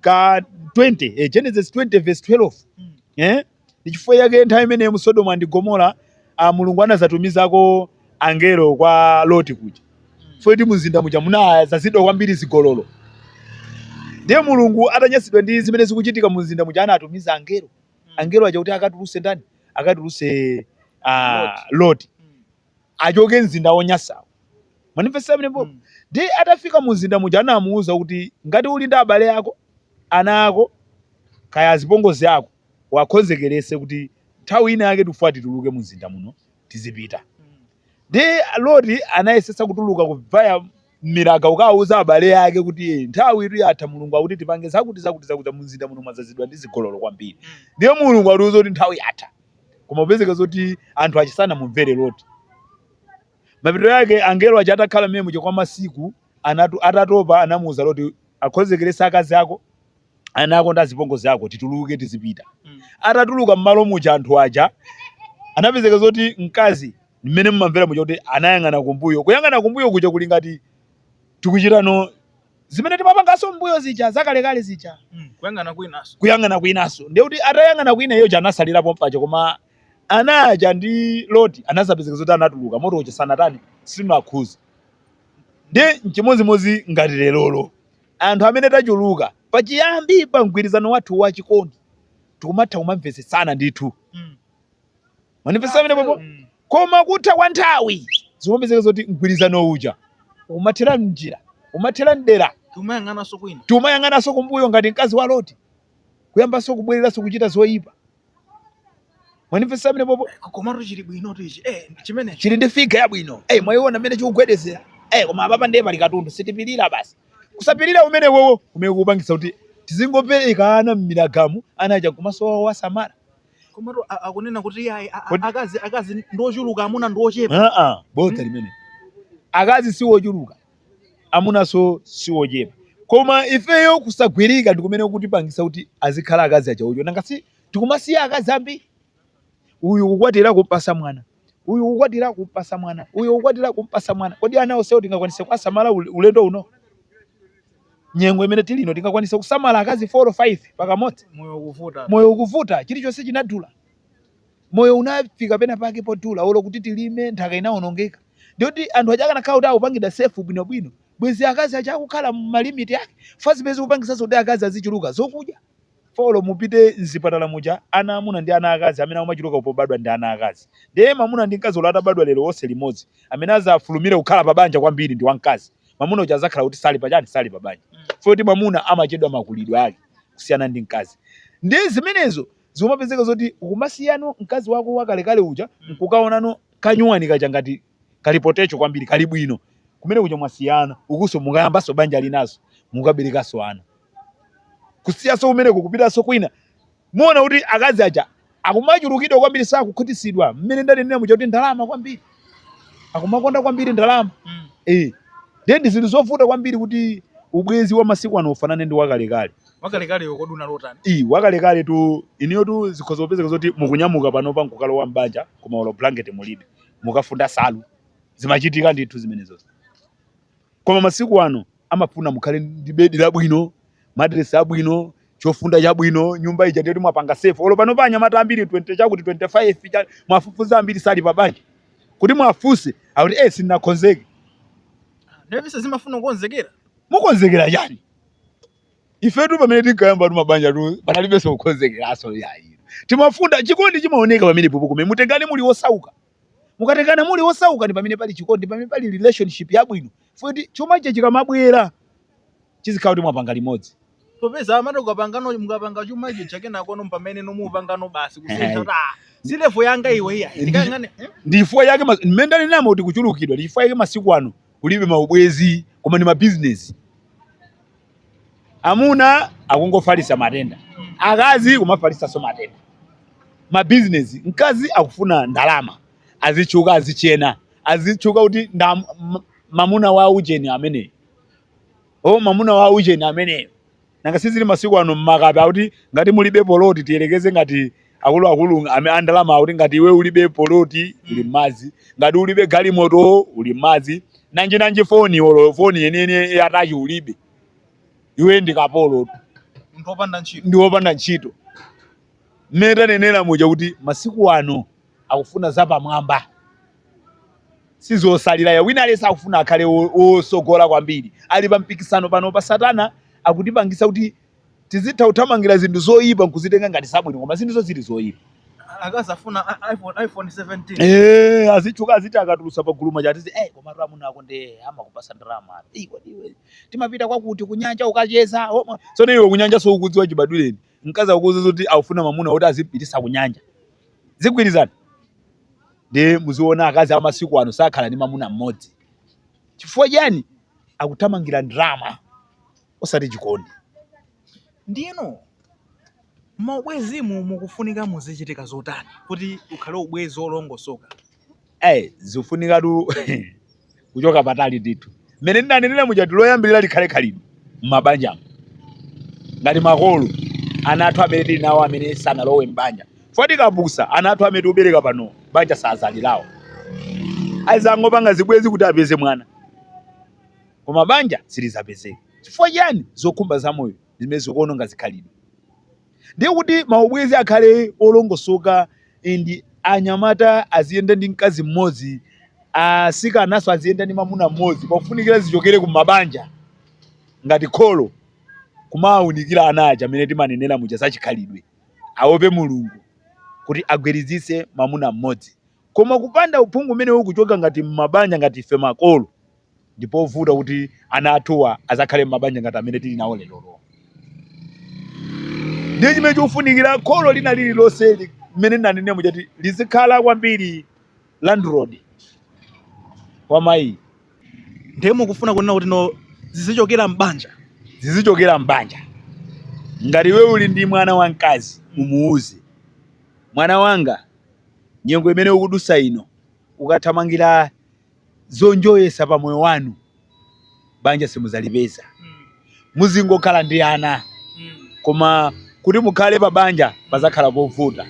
ka 20 eh, genesis 20 verse 12 Mm. eh? Ndi chifukwa chake nthawi imeneyo mu Sodomu and Gomora, a Mulungu anazatumizako angelo kwa Loti kuja. Poti mumzinda muja munazazidwa kwambiri zigololo. Ndiye Mulungu atanyasidwa ndi zimene zikuchitika mumzinda muja anatumiza angelo. Angelo aja kuti akatuluse ndani? Akatuluse a Loti. Achoke mzinda wonyasawo. Mwandimvetsa pamenepo. Ndiye atafika mumzinda muja anamuuza kuti ngati uli ndi abale ako, ana ako, kaya azipongozi ako, uwakonzekeretse kuti nthawi ina yake tifuna tituluke mumzinda muno tizipita ndiye loti anayesesa kutuluka kuvaya m'miraga kukawuza abale ake kuti "Eh, nthawitu yatha mulungu akuti tipange zakuti zakuti zakuti mumzinda muno mwazazidwa ndi zigololo kwambiri ndiye mulungu atiuza kuti nthawi yatha koma kupezeka zoti anthu aja sanamumvere loti mapeto ake angelo aja atakhala mmenemuja kwa masiku Atatu, atatopa anamuuza loti akonzekeretse akazi ako, ana ako ndi azipongozi ako tituluke tizipita. Atatuluka mmalo muja anthu aja anapezeka zoti mkazi mmene mumamvera muja kuti anayang'ana kumbuyo. Kuyang'ana kumbuyo kuja kuli ngati tikuchitanso zimene timapanganso mbuyo zija zakalekale zija. Mm. Kuyang'ana kwinaso. Kuyang'ana kwinaso. Ndiye kuti atayang'ana kwina iye uja anasalira pompaja koma ana aja ndi loti anazapezeka zoti anatuluka moto uja sunatani sunawakhuze. Ndiye n'chimodzimodzi ngati lerolo. Anthu amene tachuluka pachiyambi pa mgwirizano wathu wa chikondi tikumatha kumamvetsetsana ndithu. Mwandimvetsa pamenepopo? Koma kutha kwa nthawi zikumapezeka zoti mgwirizano uja ukumathera m'njira, ukumathera m'dera. Tikumayang'ananso kwina. Tikumayang'ananso kumbuyo ngati mkazi wa Loti, kuyambanso kubwereranso kuchita zoipa. mwandimvetsa pamenepopo komatu chili bwinotu ichi eh chimene chili ndi figa yabwino eh mwayiona mmene chikugwedezera eh koma apapa ndiye pali katundu sitipirira basi kusapirira kumeneko kumene kukupangitsa kuti tizingobereka ana mmiragamu ana aja nkumasowa owasamala komatu a- akunena kuti iye ayi, a- a- Kodi- akazi akazi ndiochuluka amuna ndiochepa aa bodza limenelo akazi si wochuluka amunanso si ochepa koma ifeyo kusagwirika ndikumene kutipangisa kuti azikhala akazi aja ocho nanga si tikumasiya akazi ambiri uyu kukwatira kumpasa mwana uyu kukwatira kumpasa mwana uyu kukwatira kumpasa mwana kodi ana onsewo tingakwanise kuwasamala ule- ulendo uno nyengo imene tili ino tingakwanitse kusamala akazi 4 or 5 pakamodzi moyo ukuvuta moyo ukuvuta chilichonse chinadula moyo unafika pena pake podula olo kuti tilime nthaka inaonongeka ndiyoti anthu aja akanakhala kuti akupangidwa sefu bwinobwino bwezi akazi aja akukhala mumalimiti ake fa zimene zikupangitsanso kuti akazi azichuluka zokudya folo mupite mzipatala muja ana amuna ndi ana akazi amene akumachuluka pobadwa ndi ana akazi ndiye mamuna ndi mkazi olo atabadwa lero onse limodzi amene azafulumire kukhala pa banja kwambiri ndi wamkazi mamuna uja azakhala kuti sali pachani sali pa banja foti mamuna amachedwa makulidwe ake kusiyana ndi mkazi ndiye zimenezo zimapezeka zoti ukumasiyano mkazi wako wakalekale uja nkukaonano kanyuwani kaja ngati kali potecho kwambiri kali bwino kumene kuja mwasiyana ukuso mukayambaso banja linaso mukaberekaso ana kusiyaso kumeneko kupitaso kwina muona kuti akazi aja akumachulukidwa kwambiri sakukhutisidwa mmene ndanenera muja kuti ndalama kwambiri akumakonda kwambiri ndalama mm. eh ndiye ndi zinthu zovuta kwambiri kuti ubwenzi wa masiku ano ufanane ndi wakalekale wakalekaleyo kodi unali otani i wakalekale tu iniyo tu zikhoza kupezeka zoti mukunyamuka panopa nkukalowa m'banja koma olo blanket mulibe mukafunda nsalu zimachitika ndithu zimenezozo koma masiku ano amafuna mukhale ndi bedi labwino matiresi abwino chofunda chabwino nyumba ija ndiyoti mwapanga safe olo panopa anyamata ambiri 20 chakuti 25 cha- muwafufuza ambiri sali pabanja kuti muwafunse akuti eh sindinakonzeke ndevise zimafuna kukonzekera mukonzekera chani ifetu pamene tinkayamba tu mabanja tu panalibenso kukonzekeraso yayi timafunda chikondi chimaoneka pamene popo kumene mutengane muli osauka mukatengana muli osauka ndi pamene pali chikondi pamene pali relationship yabwino futi chuma chija chikamabwera chizikhala kuti mwapanga limodzi popeza amati ukapangano mukapanga chuma chija chake nakono mpamene nomapangano basi kusintha Ehe. kuti ah, si levo yanga iwe iya Ndi- ndikangane eh? ndifua yake mas- mmene ndali namo kuti kuchulukidwa ndifua yake masiku ano kulibe maubwenzi koma ndi mabizinesi amuna akungofalisa matenda akazi kumafalisanso matenda mabizinesi mkazi akufuna ndalama azitchuka azichena azitchuka kuti mamuna wa ujeni ameneyo o mamuna wa ujeni amene Nanga si zili masiku ano mmakape akuti ngati mulibe poloti tiyerekeze ngati akuluakulu ame andalama akuti ngati iwe ulibe poloti uli mmadzi ngati ulibe galimoto uli mmadzi nanji nanji foni olo foni yeniyeni yatachi ulibe iwe ndi kapolo munthu wopanda ntchito ndi wopanda ntchito mmene tanenera muja kuti masiku ano akufuna zapamwamba sizosalira ya wina alesa akufuna akhale wosogola kwambiri ali pa mpikisano pano pa satana akutipangisa kuti tizitha kuthamangira zinthu zoyipa nkuzitenga ngati zabwino koma zinthuzo zili zoyipa akazafuna iPhone iPhone 17 eh azitchuka aziti akatulusa pagulu mmacheza eh koma mamuna ako nde amakupasa ndalama eh kodi iwe tumapita kwakuti kunyanja ukacheza sono iwe kunyanja sukudziwa chibadwireni Mkazi akukuuza kuti akufuna mwamuna kuti azipitisa kunyanja. Zigwirizana? Ndiye muziona akazi amasiku ano sakhala ndi mwamuna mmodzi. Chifukwa chiyani? Akuthamangira ndalama osati chikondi. Ndiyeno maubwezimu mukufunika muzichitika zotani kuti ukhale ubwezi wolongosoka? Hey, zifunikatu kuchoka patali ndithu mmene ndinanenera muja loyambirira likhale khalidwe m'mabanjamo ngati makolo ana athu amene tili nawo amene sanalowe m'banja foti kapusa ana athu amene tikubereka pano banja sazalirawo azangopanga zibwezi kuti apeze mwana koma banja silizapezeka chifukwa chiyani zokhumba za moyo zimene zikuononga zikhalidwe Ndiye kuti maubwenzi akhale olongosoka ndi anyamata aziyenda ndi mkazi mmodzi, asikanaso aziyenda ndi mamuna mmodzi pakufunikira zichokere ku mabanja ngati kholo kumawaunikira ana aja mmene timanenera muja za chikhalidwe, aope Mulungu kuti agwiritsitse mamuna mmodzi. Koma kupanda uphungu umenewo kuchoka ngati mmabanja ngati ife makolo, ndipovuta kuti ana athuwa azakhale m'mabanja ngati amene tili nawo lerolo ndiye chimene chikufunikira kholo lina lililonse li- mmene ndanenera muja kuti lizikhala kwambiri landlord wa mayi ndiye mukufuna kunena kuti no zizichokera m'banja zizichokera m'banja ngati iwe uli ndi mwana wamkazi umuwuze mwana wanga nyengo imene ukudusa ino ukathamangira zonjoyesa pa moyo wanu banja simudzalipeza muzingokhala ndi ana koma kuti mukhale pa banja pazakhala povuta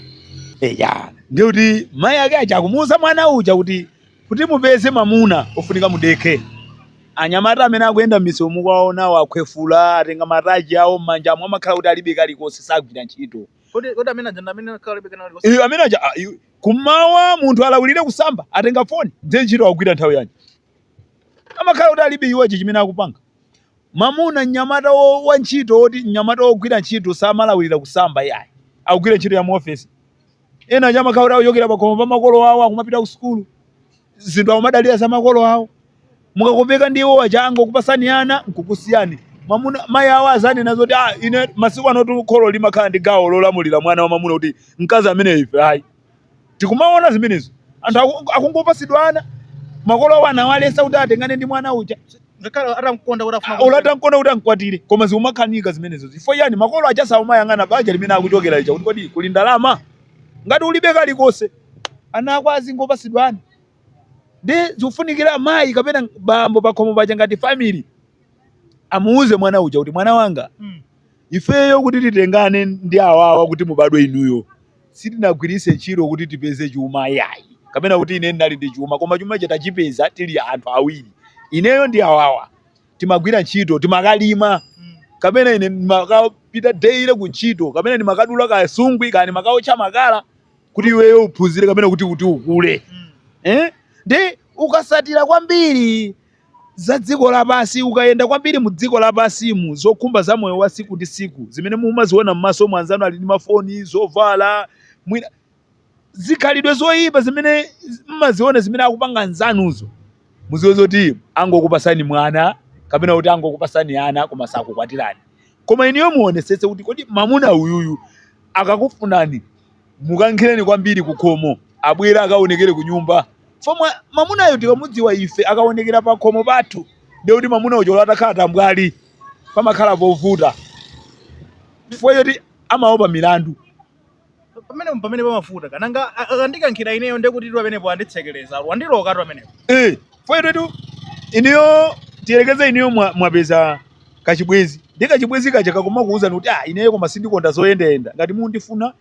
eya ndiye kuti mayi ake aja akumuuza mwana uja kuti kuti mupeze mamuna ofunika mudekhe anyamata amene akuyenda m'misewu mukuwaonawo akhwefula atenga mataji awo m'manjamo amakhala kuti alibe kalikonse sagwira ntchito Kodi kodi amene aja ndi amene akhala beka nalo. iyo amene aja ah, iyo- Kummawa munthu alawirire kusamba, atenga phone, ndiye ntchito akugwira nthawi yanji? Amakhala kuti alibe iwo chimene akupanga. Mamuna, mnyamata wo, wa ntchito woti, mnyamata wogwira ntchito samalawirira kusamba iyayi. Akugwira ntchito ya mu office. Ena aja amakhala kuti akuchokera pakhomo pa makolo awo akumapita ku sukulu. zinthu akumadalira za makolo awo mukakopeka ndi iwo aja angokupatsani ana nkukusiyani mwamuna mayi awo azanena zoti ah, ine masiku ano tu kholo limakhala ndi gawo lolamulira mwana wa mwamuna kuti mkazi amene ife ayi tikumaona zimenezo anthu aku- akungopatsidwa ana makolo awo amawaletsa kuti atengane ndi mwana uja ngakhale atamkonda kuti afuna amkwatire koma zikumakanika zimenezo chifukwa chani makolo aja saumayang'ana banja limene akuchokera lija kuti kodi kuli ndalama ngati ulibe kalikonse ana ako azingopatsidwa ana nde zikufunikira mayi kapena bambo pakhomo paja ngati family amuuze mwana uja kuti mwana wanga Mm. ifeyo kuti titengane ndi awawa kuti mubadwe inuyo sitinagwiritse ntchito kuti tipeze chuma yayi kapena kuti ine ndinali ndi chuma koma chuma icho tachipeza tili anthu awiri ineyo ndi awawa timagwira ntchito timakalima Mm. kapena ine ndimakapita daily ku ntchito kapena ndimakadula kasungwi kani makaotcha makala kuti iweyo uphunzire kapena kuti kuti ukule eh? nde ukatsatira kwambiri za dziko lapansi ukayenda kwambiri mu dziko lapansimu zokhumba za moyo wa siku ndi siku zimene mumaziona m'maso mwa anzanu ali ndi mafoni zovala mwina zikhalidwe zoyipa zimene mmaziona zimene akupanga anzanuzo muziwe zoti angokupatsani mwana kapena kuti angokupatsani ana koma sakukwatirani koma inuyo muonesetse kuti kodi mamuna uyuyu akakufunani mukankhireni kwambiri kukhomo abwere akaonekere kunyumba ifomwe mamunayo tikamudziwa ife akaonekera pakhomo pathu ndiye kuti mamuna uja olo atakhala tambwali pamakhala povuta chifukwa choti amaopa milandu pamene pamene pamavuta kanganga akandikankhira ineyo ndekuti tu pamenepo anditsekereza wandiloka tu pamenepo Eh, Fo choti inuyo tiyerekeze inuyo mwa- mwapeza kachibwezi ndi kachibwezi kaja kakumakuwuzani kuti ah, ineyo koma sindikonda zoyendayenda ngati mundifuna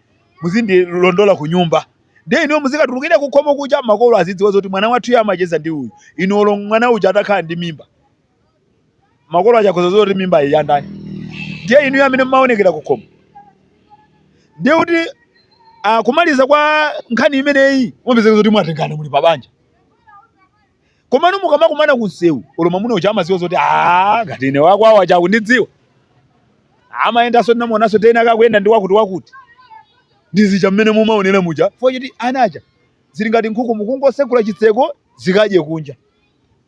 muzindilondola ku nyumba ndiye inuyo muzikatulukira kukhomo kuja makolo azidziwa zoti mwana wathu iye amacheza ndi uyu ine olo mwana uja atakhala ndi mimba makolo aja akhoza kudziwa kuti mimba iyi yandani ndiye inuyo amene mumaonekera kukhomo ndiye kuti ah, kumaliza kwa nkhani imeneyi mupezeka zoti mwatengana muli pabanja komano mukamakumana kunsewu olo mwamuna uja amadziwa zoti "Ah, ngati ine akwawo aja akundidziwa amayendanso ndinamuonanso tena akuyenda ndi wakuti wakuti ndi zija mmene mumaonera muja fo choti anaja zili ngati nkhuku mukungosegula chitseko zikadye kunja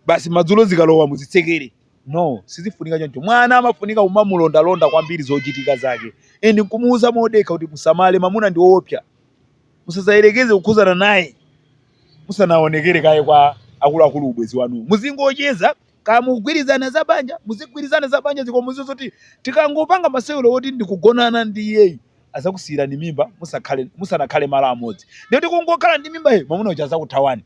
basi madzulo zikalowa muzitsekere no sizifunika choncho mwana amafunika kumamulondalonda kwambiri zochitika zake and nkumuuza modekha kuti musamale mamuna ndi woopsa musazayerekeze kukhudzana naye musanaonekere kaye kwa akuluakulu ubwezi wanu muzingocheza Kaya mukugwirizana za banja, muzigwirizana za banjazi koma muziwe zoti tikangopanga masewero woti ndikugonana ndi iyeyu azakusiyirani mimba musakhale musanakhale malo amodzi. Ndiye kuti kungokhala ndi mimba iyo mwamuna uja azakuthawani.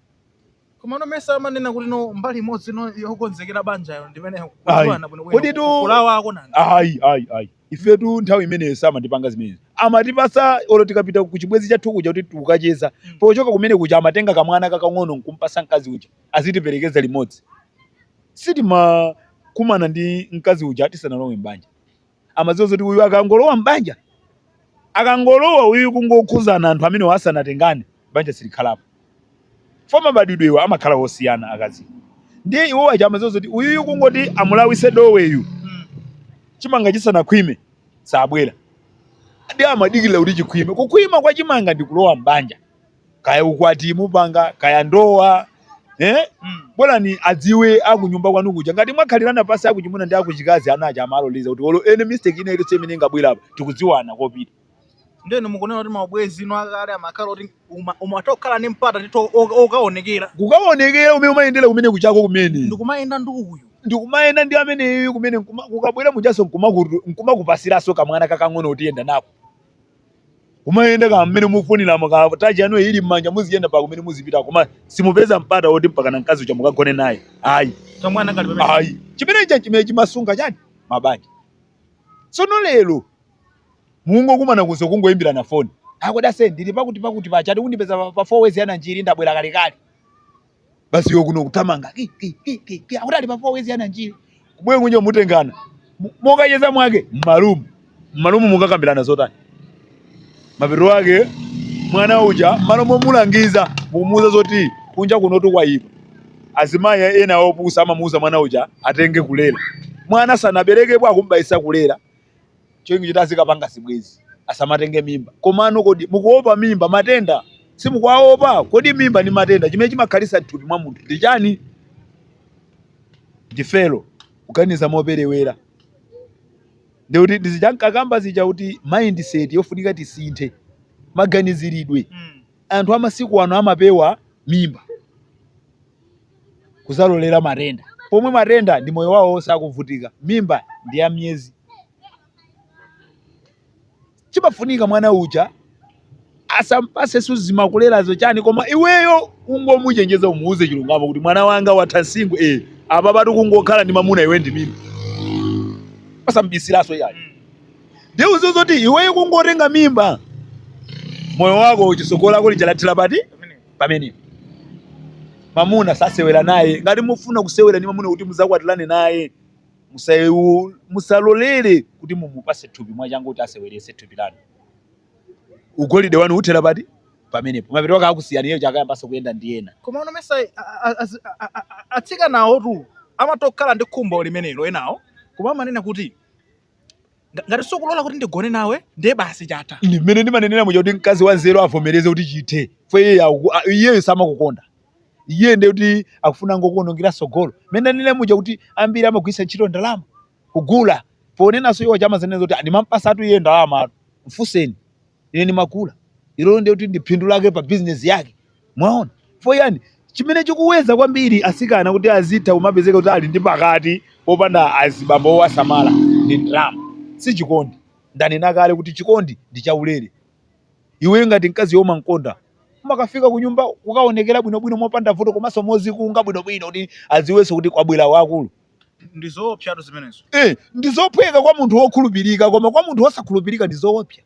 Komano mesa amanena kuti no mbali imodzi no yokonzekera banjayo ndi imene Ayi. kudziwana bwino bwino Kodi tu- kulawako nanga. Ayi, ayi, ayi. Ifetu nthawi imeneyo samatipanga zimenezi. Amatipasa olo tikapita ku chibwenzi chathu kuja kuti tikukacheza. Mm. Pochoka kumene kuja amatenga kamwana kakang'ono nkumpasa mkazi uja. azitiperekeza limodzi. Sitimakumana ndi mkazi uja tisanalowe m'banja, amadziwa zoti uyu akangolowa m'banja, akangolowa uyu kungokhuzana anthu amene asanatengane banja silikhalapo. For mabadwidwewa amakhala osiyana akazi, ndiye iwo aja amadziwa zoti uyuyu kungoti amulawise doweyu chimanga chisanakhwime sabwera, ndiye amadikirira kuti chikhwime. Kukhwima kwa chimanga ndi kulowa m'banja. kaya ukwati mupanga kaya ndowa eh? Mm. bolani adziwe akunyumba kwanu kuja ngati mwakhalirana pansi akuchimuna ndi akuchikazi ana aja amaloleza kuti olo ene mistake ina ilitse imene ingabwere apa tikudziwana kopita ndeno mukunena kuti maubwezi ino akale amakhala kuti uma- umatha kukhala ndi mpata tithu okaonekera kukaonekera umene umayendera kumene kuchako kumene ndikumayenda ndi uyu ndikumayenda ndi ameneyo kumene nkuma- kukabwera mujaso nkumakupasiraso kamwana kakang'ono utiyenda nako Kumayenda kaya mmene mufunira maka tachi yanu ili mmanja muziyenda pa kumene muzipita koma simupeza mpata woti mpaka na mkazi uja mukagone naye. Ayi. Kamwana kali pamene. Ayi. Chimene cha chimene chimasunga chani? Mabanja. Sono lero mungokumana kuzo kungoimbirana phone. Akoda se ndili pakuti pakuti pachakuti ukandipeza pa, pa four ways ya Nanjiri ndabwera kale kale. basi iwe kuno kutamanga ki ki ki ki ki akuti ali pa four ways ya Nanjiri kubwera kunja mutengana Mu- mokacheza mwake mmalumu mmalumu mukakambirana zotani mapeto ake mwana uja mmalo momulangiza mukumuuza zoti kunja kunotu kwayipa azimayi ena opusa amamuuza mwana uja atenge kulera mwana sanaberekepo akumbayisa kulera cholinga choti azikapanga zibwezi asamatenge mimba komano kodi mukuopa mimba matenda simukuwaopa kodi mimba ndi matenda chimene chimakhalitsa mthupi mwa munthu ndi chani ndifelo kuganiza moperewera ndiye kuti ndi zija ndinkakamba zija kuti mindset yofunika tisinthe maganizidwe Mm. anthu amasiku ano amapewa mimba kuzalolera matenda pomwe matenda ndi moyo wawo wonse akuvutika mimba ndi ya miyezi chimafunika mwana uja asampatsenso zimakulerazo chani koma iweyo ungomuchenjeza umuuze chilungamo kuti mwana wanga watha msinkhu eh apapatu kungokhala ndi mamuna iwe ndi mimba pasabisilaso yayi ndiye udziwe zoti iweyo kungotenga mimba moyo wako uchisokola kuli chalathira pati pamene mamuna sasewera naye ngati mufuna kusewera ndi mamuna kuti muzakwatirane naye musayewu- musalolere kuti mumupase thupi mwachangu kuti asewerese thupi lanu ugolide wanu uthera poti pamenepo mapeto ake akusiyani iyeyo chakayambanso kuyenda ndi ena koma inu mesa atsikanawotu amatokhala ndi khumbo limenelo enawo koma amanena kuti Nga- ngati sukulola kuti ndigone nawe ndiye basi chatha ine mmene ndimanenera muja kuti mkazi wanzeru avomereze kuti chithe fo iyeyo aku- a- iyeyo samakukonda iye ndiye kuti akufunango kuonongera sogolo mmene ndanenera muja kuti ambiri amagwiritsa ntchito ndalama kugula ponenanso iwo chamazanena zoti ndimampasatu iye ndalama mfunseni ine ndimagula ilolo ndiye kuti ndi phindu lake pa bizinesi yake mwaona fo iyayi chimene chikuwedza kwambiri asikana kuti azitha kumapezeka kuti ali ndi pakati popanda azibambo owasamala ndi ndalama si chikondi ndanena kale kuti chikondi ndi chaulere iwe ngati mkazi iye umamkonda umakafika kunyumba kukaonekera bwinobwino mopanda vuto komanso mozikunga bwinobwino kuti aziwenso kuti kwabwera wakulu ndi zoopsatu zimenezo eh, ndi zophweka kwa munthu wokhulupirika koma kwa munthu wosakhulupirika ndi zoopsa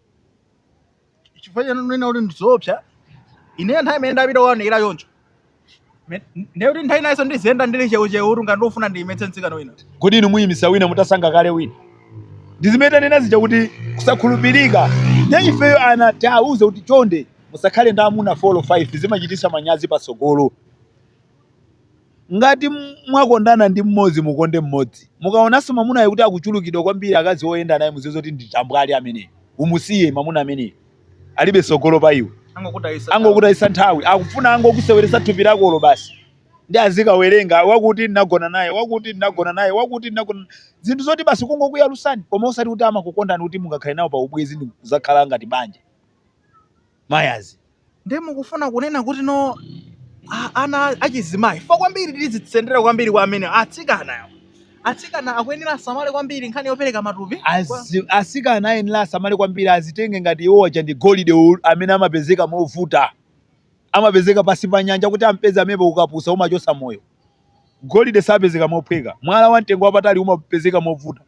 chifukwa chomwe ndikunena kuti ndi zoopsa ineyo nthawi imene ndapita kukaonekera choncho Me- ndiye kuti nthawi inayonso ndiziyenda ndili cheucheu kuti ngati ndafuna ndiyimetse mtsikana wina kodi inu muyimisa wina mutasankha kale wina ndi zimene tanena zija kuti kusakhulupirika nde ifeyo ana tiawuze kuti chonde musakhale ndi amuna 4 5 zimachititsa manyazi patsogolo Ngati mwakondana ndi mmodzi mukonde mmodzi. Mukaonanso mwamunayo kuti akuchulukidwa kwambiri akazi oyenda naye muziwe zoti ndi tambwali ameneyo. Umusiye mwamuna ameneyo. Alibe tsogolo pa iwe. Angokutayitsa nthawi. Akufuna angokuseweretsa thupi lakolo basi. Ndiye azikawerenga, wakuti ndinagona naye, wakuti ndinagona naye, wakuti ndinagona. Zinthu zoti basi kungokuyalutsani koma osati kuti amakukondani kuti mungakhale nawo pa ubwenzi ndi kudzakhala ngati banja. mayazi. Ndiye mukufuna kunena kuti no a- ana achizimayi fo kwambiri tizitsendera kwambiri kwa amene atsikana awo. atsikana akuyenera asamale kwambiri nkhani yopereka matupi Kwa- Azi- asikana ayenera asamale kwambiri azitenge ngati iwo aja ndi golide u- amene amapezeka movuta amapezeka pansi pa nyanja kuti ampeze amene ukapusa umachosa moyo golide sapezeka mophweka mwala wa mtengo wapatali umapezeka movuta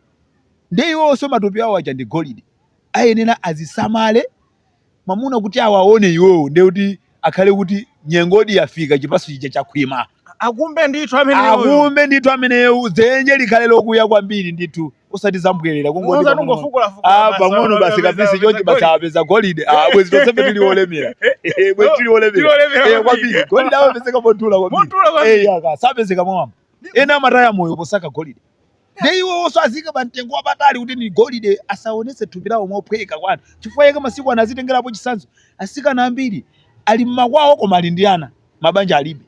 ndiye iwonso matupi awo aja ndi golide ayenera azisamale mamuna kuti awaone iwowo ndiye kuti akhale kuti nyengodi yafika chipatso chija chakhwima akumbe ndithu ameneyo akumbe ndithu ameneyo dzenje likhale lokuya kwambiri ndithu osati zambwerera kungoti Muza pang'ono- tungofukula fukula Ah, basi, pang'ono wapeza- basi wapeza- kapisi wapeza chonchi basi golidi. apeza golide Ah, bwezi tonsefe tili olemera Eh, bwezi tili olemera Tili olemera Eh, kwambiri. kwambiri golide amapezeka montula kwambiri Montula kwambiri. Eh, yaka sapezeka mwamba ena amataya moyo posaka golide nde iwowonso aziyike pa mtengo wapatali kuti ndi golide asaonetse thupi lawo mophweka kwa anthu chifukwa chake masiku ano azitengerapo chitsanzo atsikana ambiri ali mmakwawo koma ali ndi ana mabanja alibe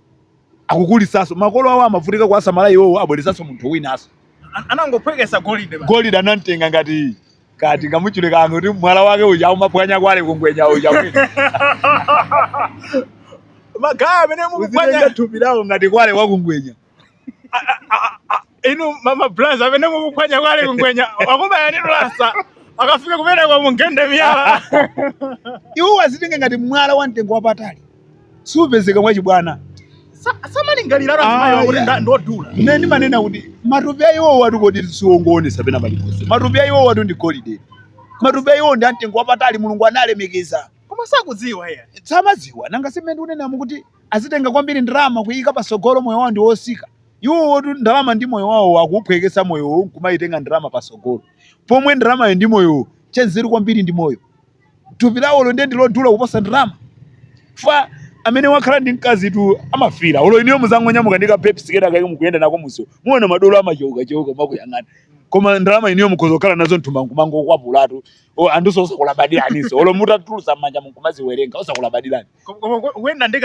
akuwakulitsanso makolo awo amavutika kuwasamala iwowo abweretsanso munthu winanso An- anangophwekesa golide basi. golide anamtenga ngati kati kamutchule kanu kuti mwala wake uja umapwanya kwale kungwenya uja magaya amene uzitenga mukupwanya thupi lawo ngati kwale wakungwenya a- a- a- a- inu mama braz amene mukuphwanya kwale kungwenya akubaya ndi lasa akafika kumene kwa mungende miyala iwowo azitenge ngati mwala wa mtengo wapatali siupezeka mwachibwana Sa- samalingalira Ah, azimayi kuti yeah. nda- ndodula ine ndimanena kuti matupi a iwowotu kodi siwongoonesa pena paliponse matupi a iwowotu ndi golide matupi a iwowo ndi amtengo wapatali mulungu analemekeza koma sakudziwa iye samadziwa nanga simene unenamo kuti akuitenga kwambiri ndalama kuyika pasogolo moyo wawo ndi otsika iwowotu ndalama ndi moyo wawo akuuphwekesa moyowo nkumayitenga ndalama pasogolo pomwe ndalamayo ndi moyowo chanzeru kwambiri ndi moyo thupi lawolo ndiye ndilodula kuposa ndalama fa amene wakhala ndi mkazitu amafira olo inuyo muzangonyamuka ndi kabebi kena kake mukuyenda nako mumsewu muona madolo amacheuka cheuka kumakuyang'anani koma ndalama inuyo mukhoza kukhala nazo mthumba nkumangokwapulatu anthuso osakulabadiraniso olo mutatulusa mmanja nkumaziwerenga osakulabadira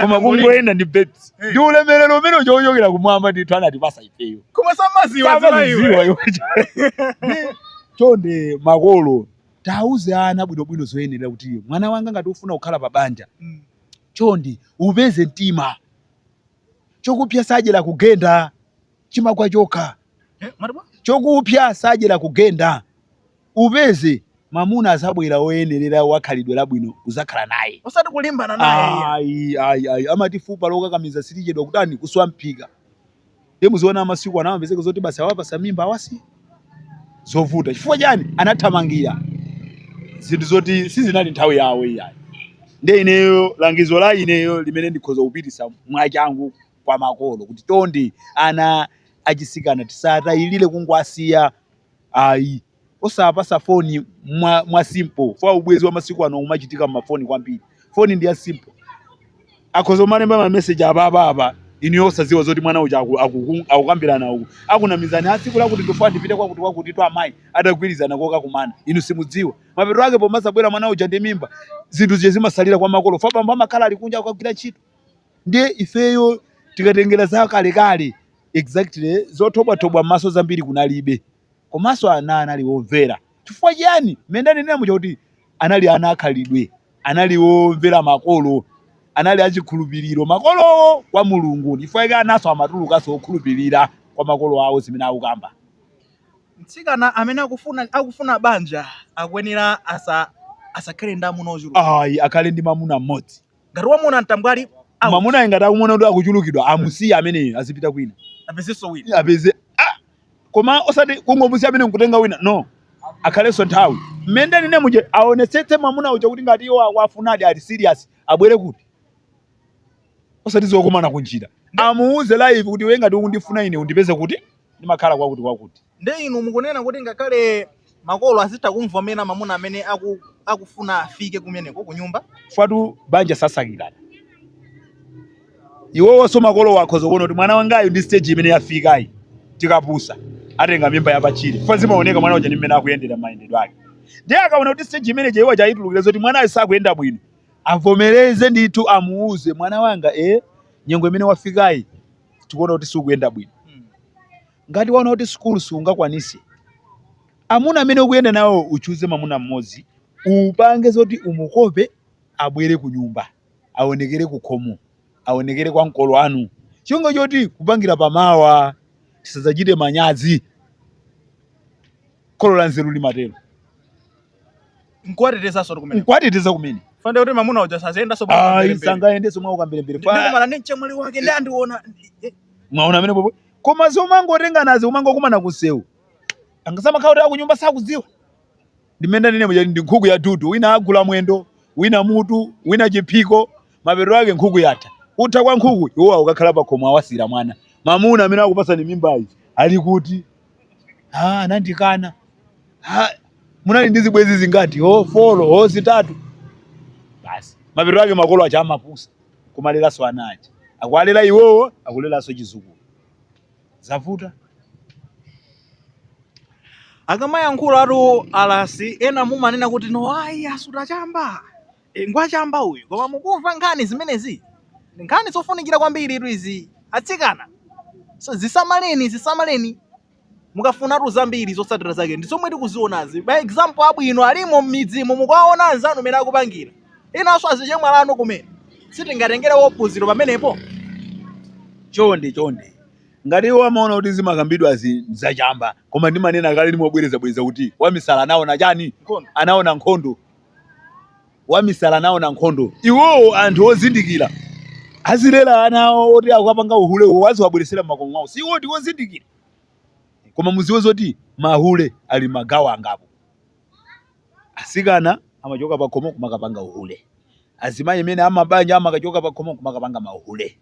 koma kungoyenda ndi bebi eh. ndi ulemerero umene ukuchokera kumwamba ndithu anatipasa ifeyo koma samaziwa chonde makolo tiwauze ana bwinobwino zoyenera kuti mwana wanga ngati ufuna kukhala pa banja mm. chonde upeze mtima chokupya sajera kugenda chimagwa chokha eh, chokupya sajera kugenda upeze mamuna azabwera woyenerera wa khalidwe labwino uzakhala naye osati kulimbana naye iya ayi ayi ayi amati fupa lokakamiza silichedwa kutani kuswa mphika ndiye muziona masiku ano amapezeka zoti basi awapasa mimba awasiya zovuta chifukwa chani anathamangira zinthu zoti sizinali nthawi yawo iyayi ndiye ineyo langizo la ineyo limene ndikhoza kupitisa mwachangu kwa makolo kuti chonde ana achisikana tisatayilire kungwasiya ayi osawapasa foni mwa, mwa simple fwa ubwezi wa masiku ano umachitika mmafoni kwambiri foni ndi ya simple akhoza kumalemba mameseji apa apa apa inuyo osadziwa zoti mwana uja aku- aku- akukambirana uku akunamizana tsiku lakuti ndifuna ndipite kwakuti kwakuti kwa amayi atagwirizana kokakumana inu simudziwa mapeto ake pomazabwera mwana uja ndi mimba zinthu zija zimasalira kwa makolo fwa bambo amakhala ali kunja akukagwira ntchito Ndiye ifeyo tikatengera za kalekale exactly zothobwathobwa m'maso zambiri kunalibe komanso ana anali omvera. Chifukwa chiyani? Mmene ndanenera muja kuti anali ana akhalidwe, anali omvera makolo, anali achikhulupiriro makolowo kwa Mulungu. Chifukwa chake ananso amatulukanso okhulupirira kwa makolo awo zimene akukamba. Mtsikana amene akufuna akufuna banja akuyenera asa asakhale ndi amuna ochuluka. Ayi, akhale ndi mwamuna mmodzi. ngati wamuona mtambwali out. mamunayi ngati akumona kuti akuchulukidwa amusiye ameneyo azipita kwina apezenso wina apeze ah! koma osati kungomusiya amene nkutenga wina no akhalenso nthawi mmene ndanenera muja aonetsetse mwamuna uja kuti ngati iwo akuwafunadi ali serious abwere kuti osati zokumana kunjira amuuze live kuti iwe ngati ukundifuna ine undipeze kuti ndimakhala kwakuti kwakuti Nde inu mukunena kuti ngakhale makolo azitha kumvomera mamuna amene aku, akufuna afike kumeneko kunyumba? fwatu banja sasakilana iwowoso makolo akhoza kuona kuti mwana wangayu ndi stage imene yafikayi tikapusa atenga mimba yapatchire fwa zimaoneka mwana uja ndi mmene akuyendera mayendedwe ake ndiye akaona kuti stage imeneja iwo achayitulukira zoti mwanayo sakuyenda bwino avomereze ndithu amuuze mwana wanga e nyengo imene wafikayi tikuona kuti sikuyenda bwino Hmm. Ngati waona kuti sukulu siungakwanise, amuna amene ukuyenda nawo uchuze mamuna mmodzi upange zoti umukope abwere kunyumba aonekere kukhomo aonekere kwa makolo anu cholinga choti kupangira pa mawa tisadzachite manyadzi kholo la nzeru limatero nkuwatetezaso kuti kumene nkuwateteza kumene fande kuti mamuna uja sazayendaso ayi sangayendeso mwa ukamberembere Fa- ndikumana ndi mchemwali wake ndi andiona mwaona amene popo Koma zomangotenganazi kumangokumana kunsewu kaya amakhala kuti akunyumba sakudziwa ndimene ndanene muja ndi nkhuku ya dudu wina agula mwendo wina mutu wina chiphiko mapetero ake nkhuku yatha kutha kwa nkhuku iwo akukakhala pakhomo awasiyira mwana mamuna amene akupasani mimbayi ali kuti ah anandikana ah munali ndi zibwenzi zingati oh folo oh zitatu basi mapetero ake makolo aja amapusa kumaleranso ana aja akuwalera iwowo akuleranso chizukulu zavuta akamayankhula atu alasi ena mumanena kuti no ayi asuta chamba e, ngwachamba uyu koma mukumva nkhani zimenezi Ndi nkhani zofunikira kwambiritu izi atsikana so dzisamaleni dzisamaleni mukafuna atu zambiri zotsatira zake ndi zomwe tikuzionazi ma example abwino alimo m'midzimu mukuwaona anzanu mene akupangira inanso azichemwali anu kumene sitingatengerepo phunziro pamenepo chonde chonde ngati iwo amaona kuti zimakambidwazi nzachamba koma ndimanena kale ndimobwerezabwereza kuti wamisala anaona chani Nkhondo. anaona nkhondo wamisala anaona nkhondo iwowo anthu ozindikira azilera anawo oti akapanga uhule uwo aziwabweresera m'makomo mwawo si iwo ndi ozindikira koma muziwe zoti mahule ali magawo angapo asikana amachoka pakhomo kumakapanga uhule azimayi amene amabanja amakachoka pakhomo kumakapanga mahule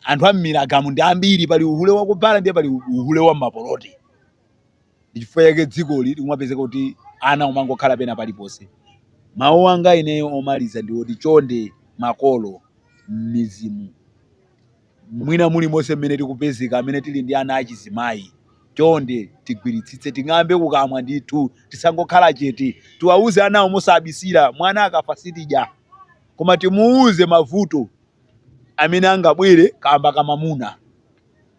anthu am'milagamo ndi ambiri pali uhule wakubhala ndiye pali uhule wa mapoloti ndichifukwa chake dzikoli likumapezeka kuti anawo amangokhala pena paliponse mawu anga ineyo omaliza ndi oti chonde makolo m'mizimu mwina mulimonse mmene tikupezeka amene tili ndi ana achizimayi chonde tigwiritsitse ting'ambe kukamwa ndithu tisangokhala chete tiwauze anawo mosabisira mwana akafa sitidya koma timuuze mavuto amene angabwere kamba kamamuna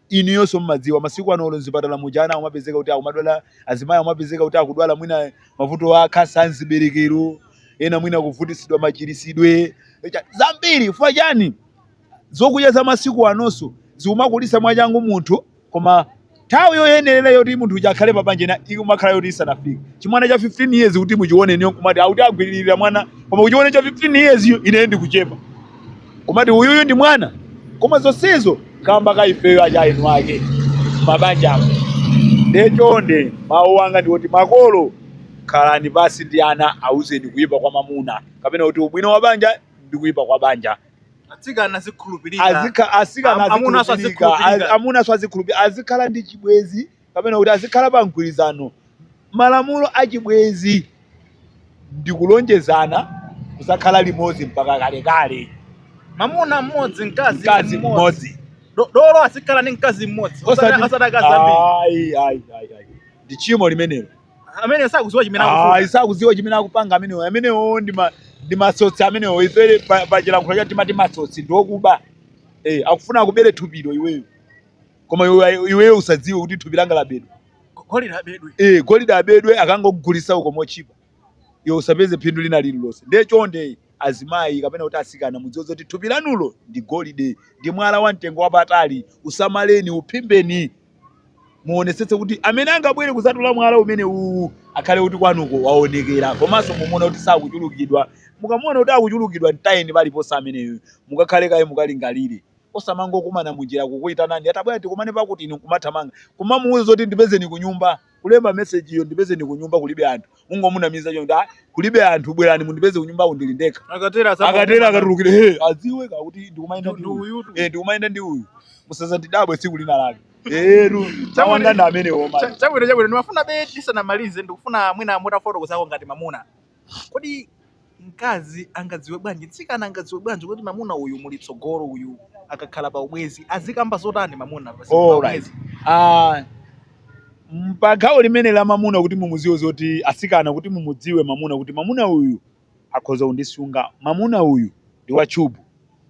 inuyonso mumadziwa masiku ano olo mzipatala muja ana akumapezeka kuti akumadwala azimayi akumapezeka kuti akudwala mwina mavuto a khansa amziberekero ena mwina kuvutitsidwa machirisidwe zambiri chifukwa chani zokudya za masiku anonso zikumakulitsa mwachangu munthu koma nthawi yoyenerera yoti munthu uja akhale pabanja ina ikumakhala yoti isanafike chimwana cha 15 years kuti muchione inuyo kumati akuti agwiririra mwana koma kuchione cha 15 years yo ine ndikuchepa kumati uyuyu ndi mwana koma zonsezo kamba ka ifeyo achina eni ake mabanja nde chonde mawu anga ndi oti makolo khalani pansi ndi ana awuzeni kuyipa kwa mamuna kapena kuti ubwino wa banja ndi kuyipa kwa banja atsikana azikhulupirika azika asikana azikhulupirika. amunaso azikhulupirika azikhala ndi chibwezi kapena kuti azikhala pa mgwirizano. Malamulo a chibwenzi ndi kulonjezana kuzakhala limodzi mpaka kalekale. Mamuna mmodzi, mkazi mmodzi. Dolo azikhala ndi mkazi mmodzi. Osati akazi ambiri. Ayi, ayi, ayi, ayi. Ndi tchimo limenelo. Amene sakudziwa chimene akufuna. Sakuziwa chimene akupanga amenewo amenewo ndi matsotsi amenewo ife pa chilankhulo chathu timati matsotsi ndi okuba eh akufuna akubere thupilo iweyo koma iweyo usadziwe kuti thupi langa labedwa golide abedwe e, golide abedwe akangogulisa uko motchipa iwe usapeze phindu lina lililonse ndiye chonde azimayi kapena kuti asikana mudziwe kuti thupi lanulo ndi golide ndi mwala wa mtengo wapatali usamaleni uphimbeni muonesetse kuti amene angabwere kuzatula mwala umene uwu akhale kuti kwanuko waonekera komanso mumuona kuti sakuchulukidwa mukamuona kuti akuchulukidwa mtayeni paliponse ameneyo mukakhale kaye mukalingalire Osamangokumana munjira kukuitanani ati abwera tikumane pakuti inu nkumathamanga kumamuuza zoti ndipezeni kunyumba. Kulemba message yo ndipezeni kunyumba kulibe anthu. Mungomunamiza choncho kuti ah kulibe anthu bwerani mundipeze kunyumba ku ndili ndekha. Akatero akatulukire adziwe kuti ndikumayenda ndi uyu. Eh ndikumayenda ndi uyu. Musazandidabwe tsiku lina lake. Eetu Chabwino mawu anga ndi amenewo. chabwino ndimafunabe tisanamalize ndikufuna mwina mutafotokozako ngati mamuna. Kodi mkazi angadziwe bwanji, mtsikana angadziwe bwanji kuti mamuna uyu muli tsogolo uyu akakhala pa ubwezi azikamba zotani mamuna pa Alright. ubwezi? Ah, m- pa gawo limene la mamuna kuti mumudziwe zoti asikana kuti mumudziwe mamuna kuti mamuna uyu akhoza kundisunga mamuna uyu ndi wachubu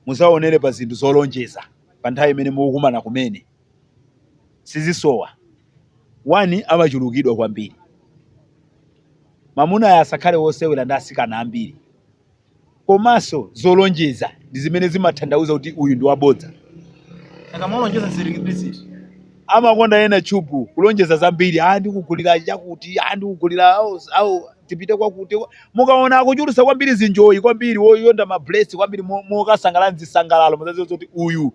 mudzaonere pa zinthu zolonjeza pa nthawi imene mukukumana kumene sizisowa one amachulukidwa kwambiri mamunayo asakhale wosewera ndi asikana ambiri komanso zolonjeza ndi zimene zimatanthauza kuti uyu ndi wabodza akamolonjeza zilipiziti amakonda ena chubu kulonjeza zambiri ah ndikugulira chakuti ah ndikugulira au, au tipite kwakuti mukaona akuchulusa kwambiri zinjoyi kwambiri woyenda mapulesi kwambiri mo- mokasangala mzisangalalo muzaziwa kuti uyu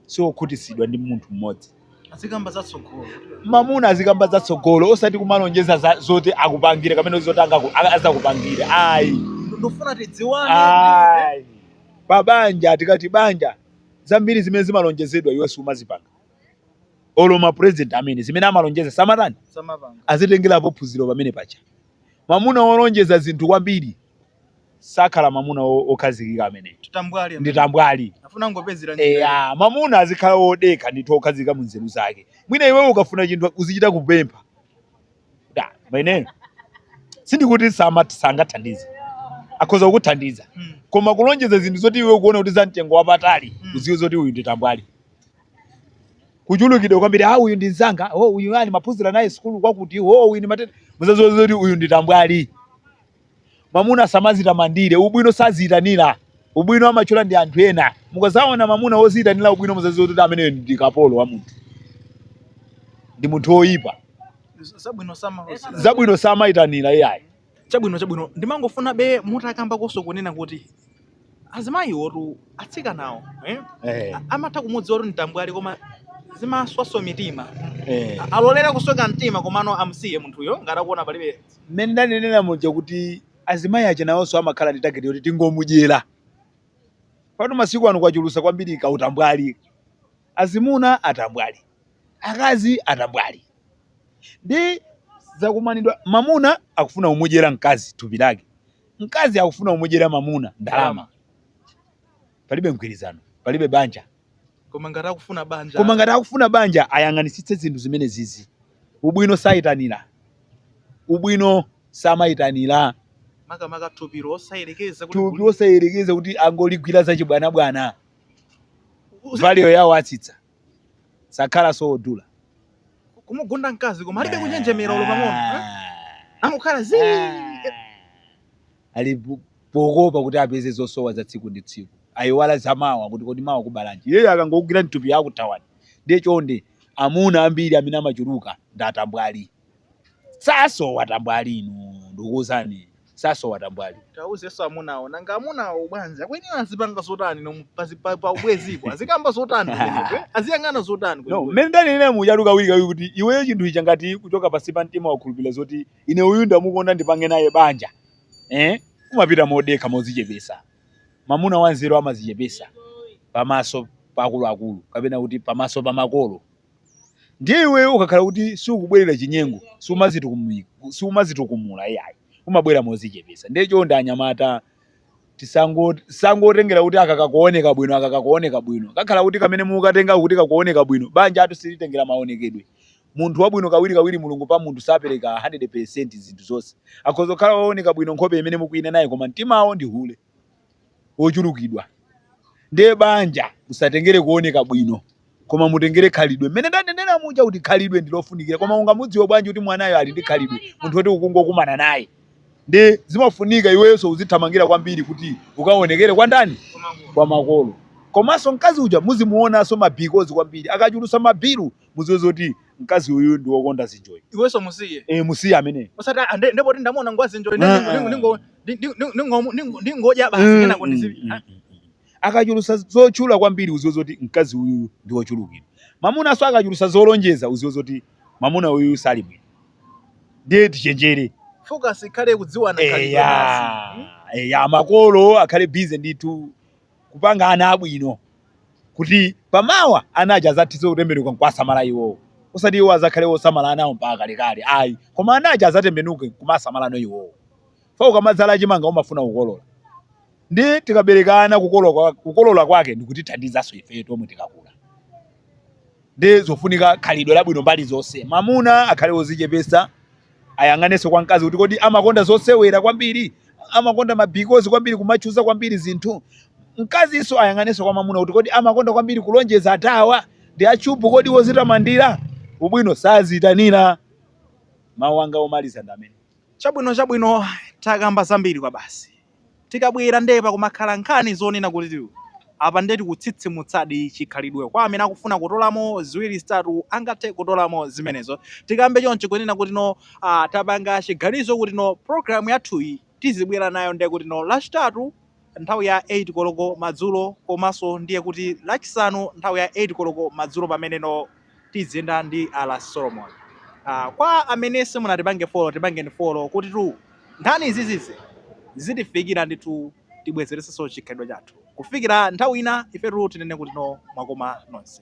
si okhutitsidwa ndi munthu mmodzi azikamba za tsogolo mamuna azikamba za tsogolo osati kumalonjeza za- zoti akupangire kapena zoti angaku- a- azakupangire ayi ndofuna tidziwane ayi pa banja tikati banja zambiri zimene zimalonjezedwa iwo samazipanga olo ma president amene zimene amalonjeza samatani samapanga azitengerapo phunziro pamenepa ja mamuna wolonjeza zinthu kwambiri sakhala mamuna wo- wokhazikika ameneyo ndi tambwali. Afuna kungopezera njira. eya mamuna azikhala wodekha ndithu wokhazikika mu nzeru zake mwina iweyo ukafuna chinthu uzichita kupempha koma ine sindikuti sama- sangathandize akhoza kukuthandiza Mm. koma kulonjeza zinthu zoti iwe ukuona kuti za mtengo wapatali Mm. uziwe zoti uyu ndi tambwali kuchulukidwa kwambiri ah uyu ndi mzanga oh uyu ndimaphunzira naye sukulu kwakuti oh uyu ndi matenda muzaziwe zoti uyu ndi tambwali Mamuna samazitamandira, ubwino saziitanira. Ubwino amatchula ndi anthu ena. Mukazaona mamuna woziitanira ubwino muzaziwe kuti ameneyo ndi kapolo wa munthu. Ndi munthu woyipa. Zabwino sama. Zabwino samaitanira iyayi. Chabwino chabwino ndimangofuna be mutakambakonso kunena kuti azimayiwotu atsikanawo eh? eh. amatha kumudziwa kuti ndi tambwali koma zimaswanso mitima eh. alolera kusweka mtima komano amusiye munthuyo ngati akuona palibe mmene ndanenera muja kuti azimayi aja nawonso amakhala ndi tageti yoti tingomudyera pano masiku ano kwachuluka kwambiri ka utambwali azimuna atambwali akazi atambwali ndi zakumanidwa mamuna akufuna kumudyera mkazi thupi lake mkazi akufuna kumudyera mamuna ndalama palibe mgwirizano palibe banja koma ngati akufuna banja koma ngati akufuna banja ayang'anisitse zinthu zimenezizi ubwino sayitanira ubwino samayitanira makamaka thupilo osayerekeza thupilo osayerekeza kuti angoligwira za chibwanabwana value yawo atsitsa sakhalanso wodula kumugunda mkazi koma alibe kunjenjemera olo pang'ono eh? angokhala zi ali po- pokopa kuti apeze zosowa za tsiku ndi tsiku ayiwala za mawa kuti kodi mawa kubalanji iyeyo akangokugwira mthupi akuthawani ndiye chonde amuna ambiri amene amachuluka ndi atambwali sasowa tambwali inu ndikuuzani sasowa tambwali tauzenso amunawo nanga amunawo ubwenzi akuyenera azipanga zotani no pazi- pa- pa ubwenzipo azikamba zotani kumeneko, eh? aziyang'ana zotani no kumeneko? mmene ndanenera mujatu kawirikawiri kuti iweyo chinthu ichi ngati kuchoka pansi pa mtima wakhulupirira zoti ine uyu ndamukonda ndipange naye banja eh? umapita modekha mozichepesa mamuna wanzeru amazichepesa pamaso pa akuluakulu kapena kuti pamaso pa makolo ndiye iweyo ukakhala kuti siukubwerera chinyengo siumazitukumula iyayi umabwera mozichepesa ndiye chonde anyamata tisangotengera kuti aka kakuoneka bwino aka kakuoneka bwino kakhala kuti kamene mukatenga kuti kakuoneka bwino banjatu silitengera maonekedwe munthu wabwino kawiri kawiri mulungu pa munthu sapereka 100% zinthu zonse akhoza kukhala wooneka bwino nkhope imene mukuinenayo koma mtimawo ndi hule ochulukidwa ndiye banja usatengere kuoneka bwino koma mutengere khalidwe mmene ndanenera muja kuti khalidwe ndilofunikira koma ungamudziwe bwanji kuti mwanayo ali ndi khalidwe munthu woti ukungokumana naye ndi zimafunika iwenso uzithamangira kwambiri kuti ukaonekere kwa ndani kwa makolo komanso mkazi uja muzimuonanso mabhikozi kwambiri akachulusa mabilu muziwe zoti mkazi uyu ndi wokonda zinjoyi iwenso musiye e, musiye amene osati "Ah, nde- ndepoti ndamuona ngwa zinjoyi ine Ah, ningo- ndingodya basi Mm, kenako mm, ndizivi mm. akachulusa zotchula kwambiri uziwe zoti mkazi uyu ndi wochulukira mamunanso akachulusa zolonjeza uziwe zoti mamuna uyu sali bwino ndiye tichenjere focus ikhale kudziwana khalidwe basi. eya eya makolo akhale bize ndithu kupanga ana abwino kuti pamawa ana aja azathize kutembenuka nkuwasamala iwowo osati iwo azakhale wosamala anawo mpaka kalekale ayi koma ana aja azatembenuke kumasamalano iwowo fa ukamadzala chimanga umafuna kukolola ndi tikabereka ana kukolola kwa- kukolola kwake ndikutithandizanso ife tomwe tikakula Ndi zofunika khalidwe labwino mbali zonse. Mamuna akhale wozichepesa, ayang'anenso kwa mkazi kuti kodi amakonda zosewera kwambiri, amakonda mabikozi kwambiri, kumatchuza kwambiri zinthu. Mkazinso ayang'anenso kwa mamuna kuti kodi amakonda kwambiri kulonjeza atawa ndi achubu, kodi wozitamandira ubwino saziitanira. Mawu anga omaliza ndi amene. Chabwino, chabwino, takamba zambiri kwabasi. Tikabwera nde pakumakhala nkhani zonena kuti apa nde tikutsitsimutsadi chikhalidwe kwa amene akufuna kutolamo ziwiri zitatu angathe kutolamo zimenezo tikambe chonchi kunena kuti no aah tapanga chiganizo kuti no program yathuyi tizibwera nayo nde kuti no lachitatu nthawi ya 8 koloko madzulo komanso ndiye kuti lachisanu nthawi ya 8 koloko madzulo pamene no tiziyenda ndi R Solomon. Uh, kwa amene simunatipange follow tipangeni follow kuti tu nkhani izizi zitifikira ndithu tibwezeresenso chikhalidwe chathu kufikira nthawi ina ifetu tinene kuti no mwakoma nonse.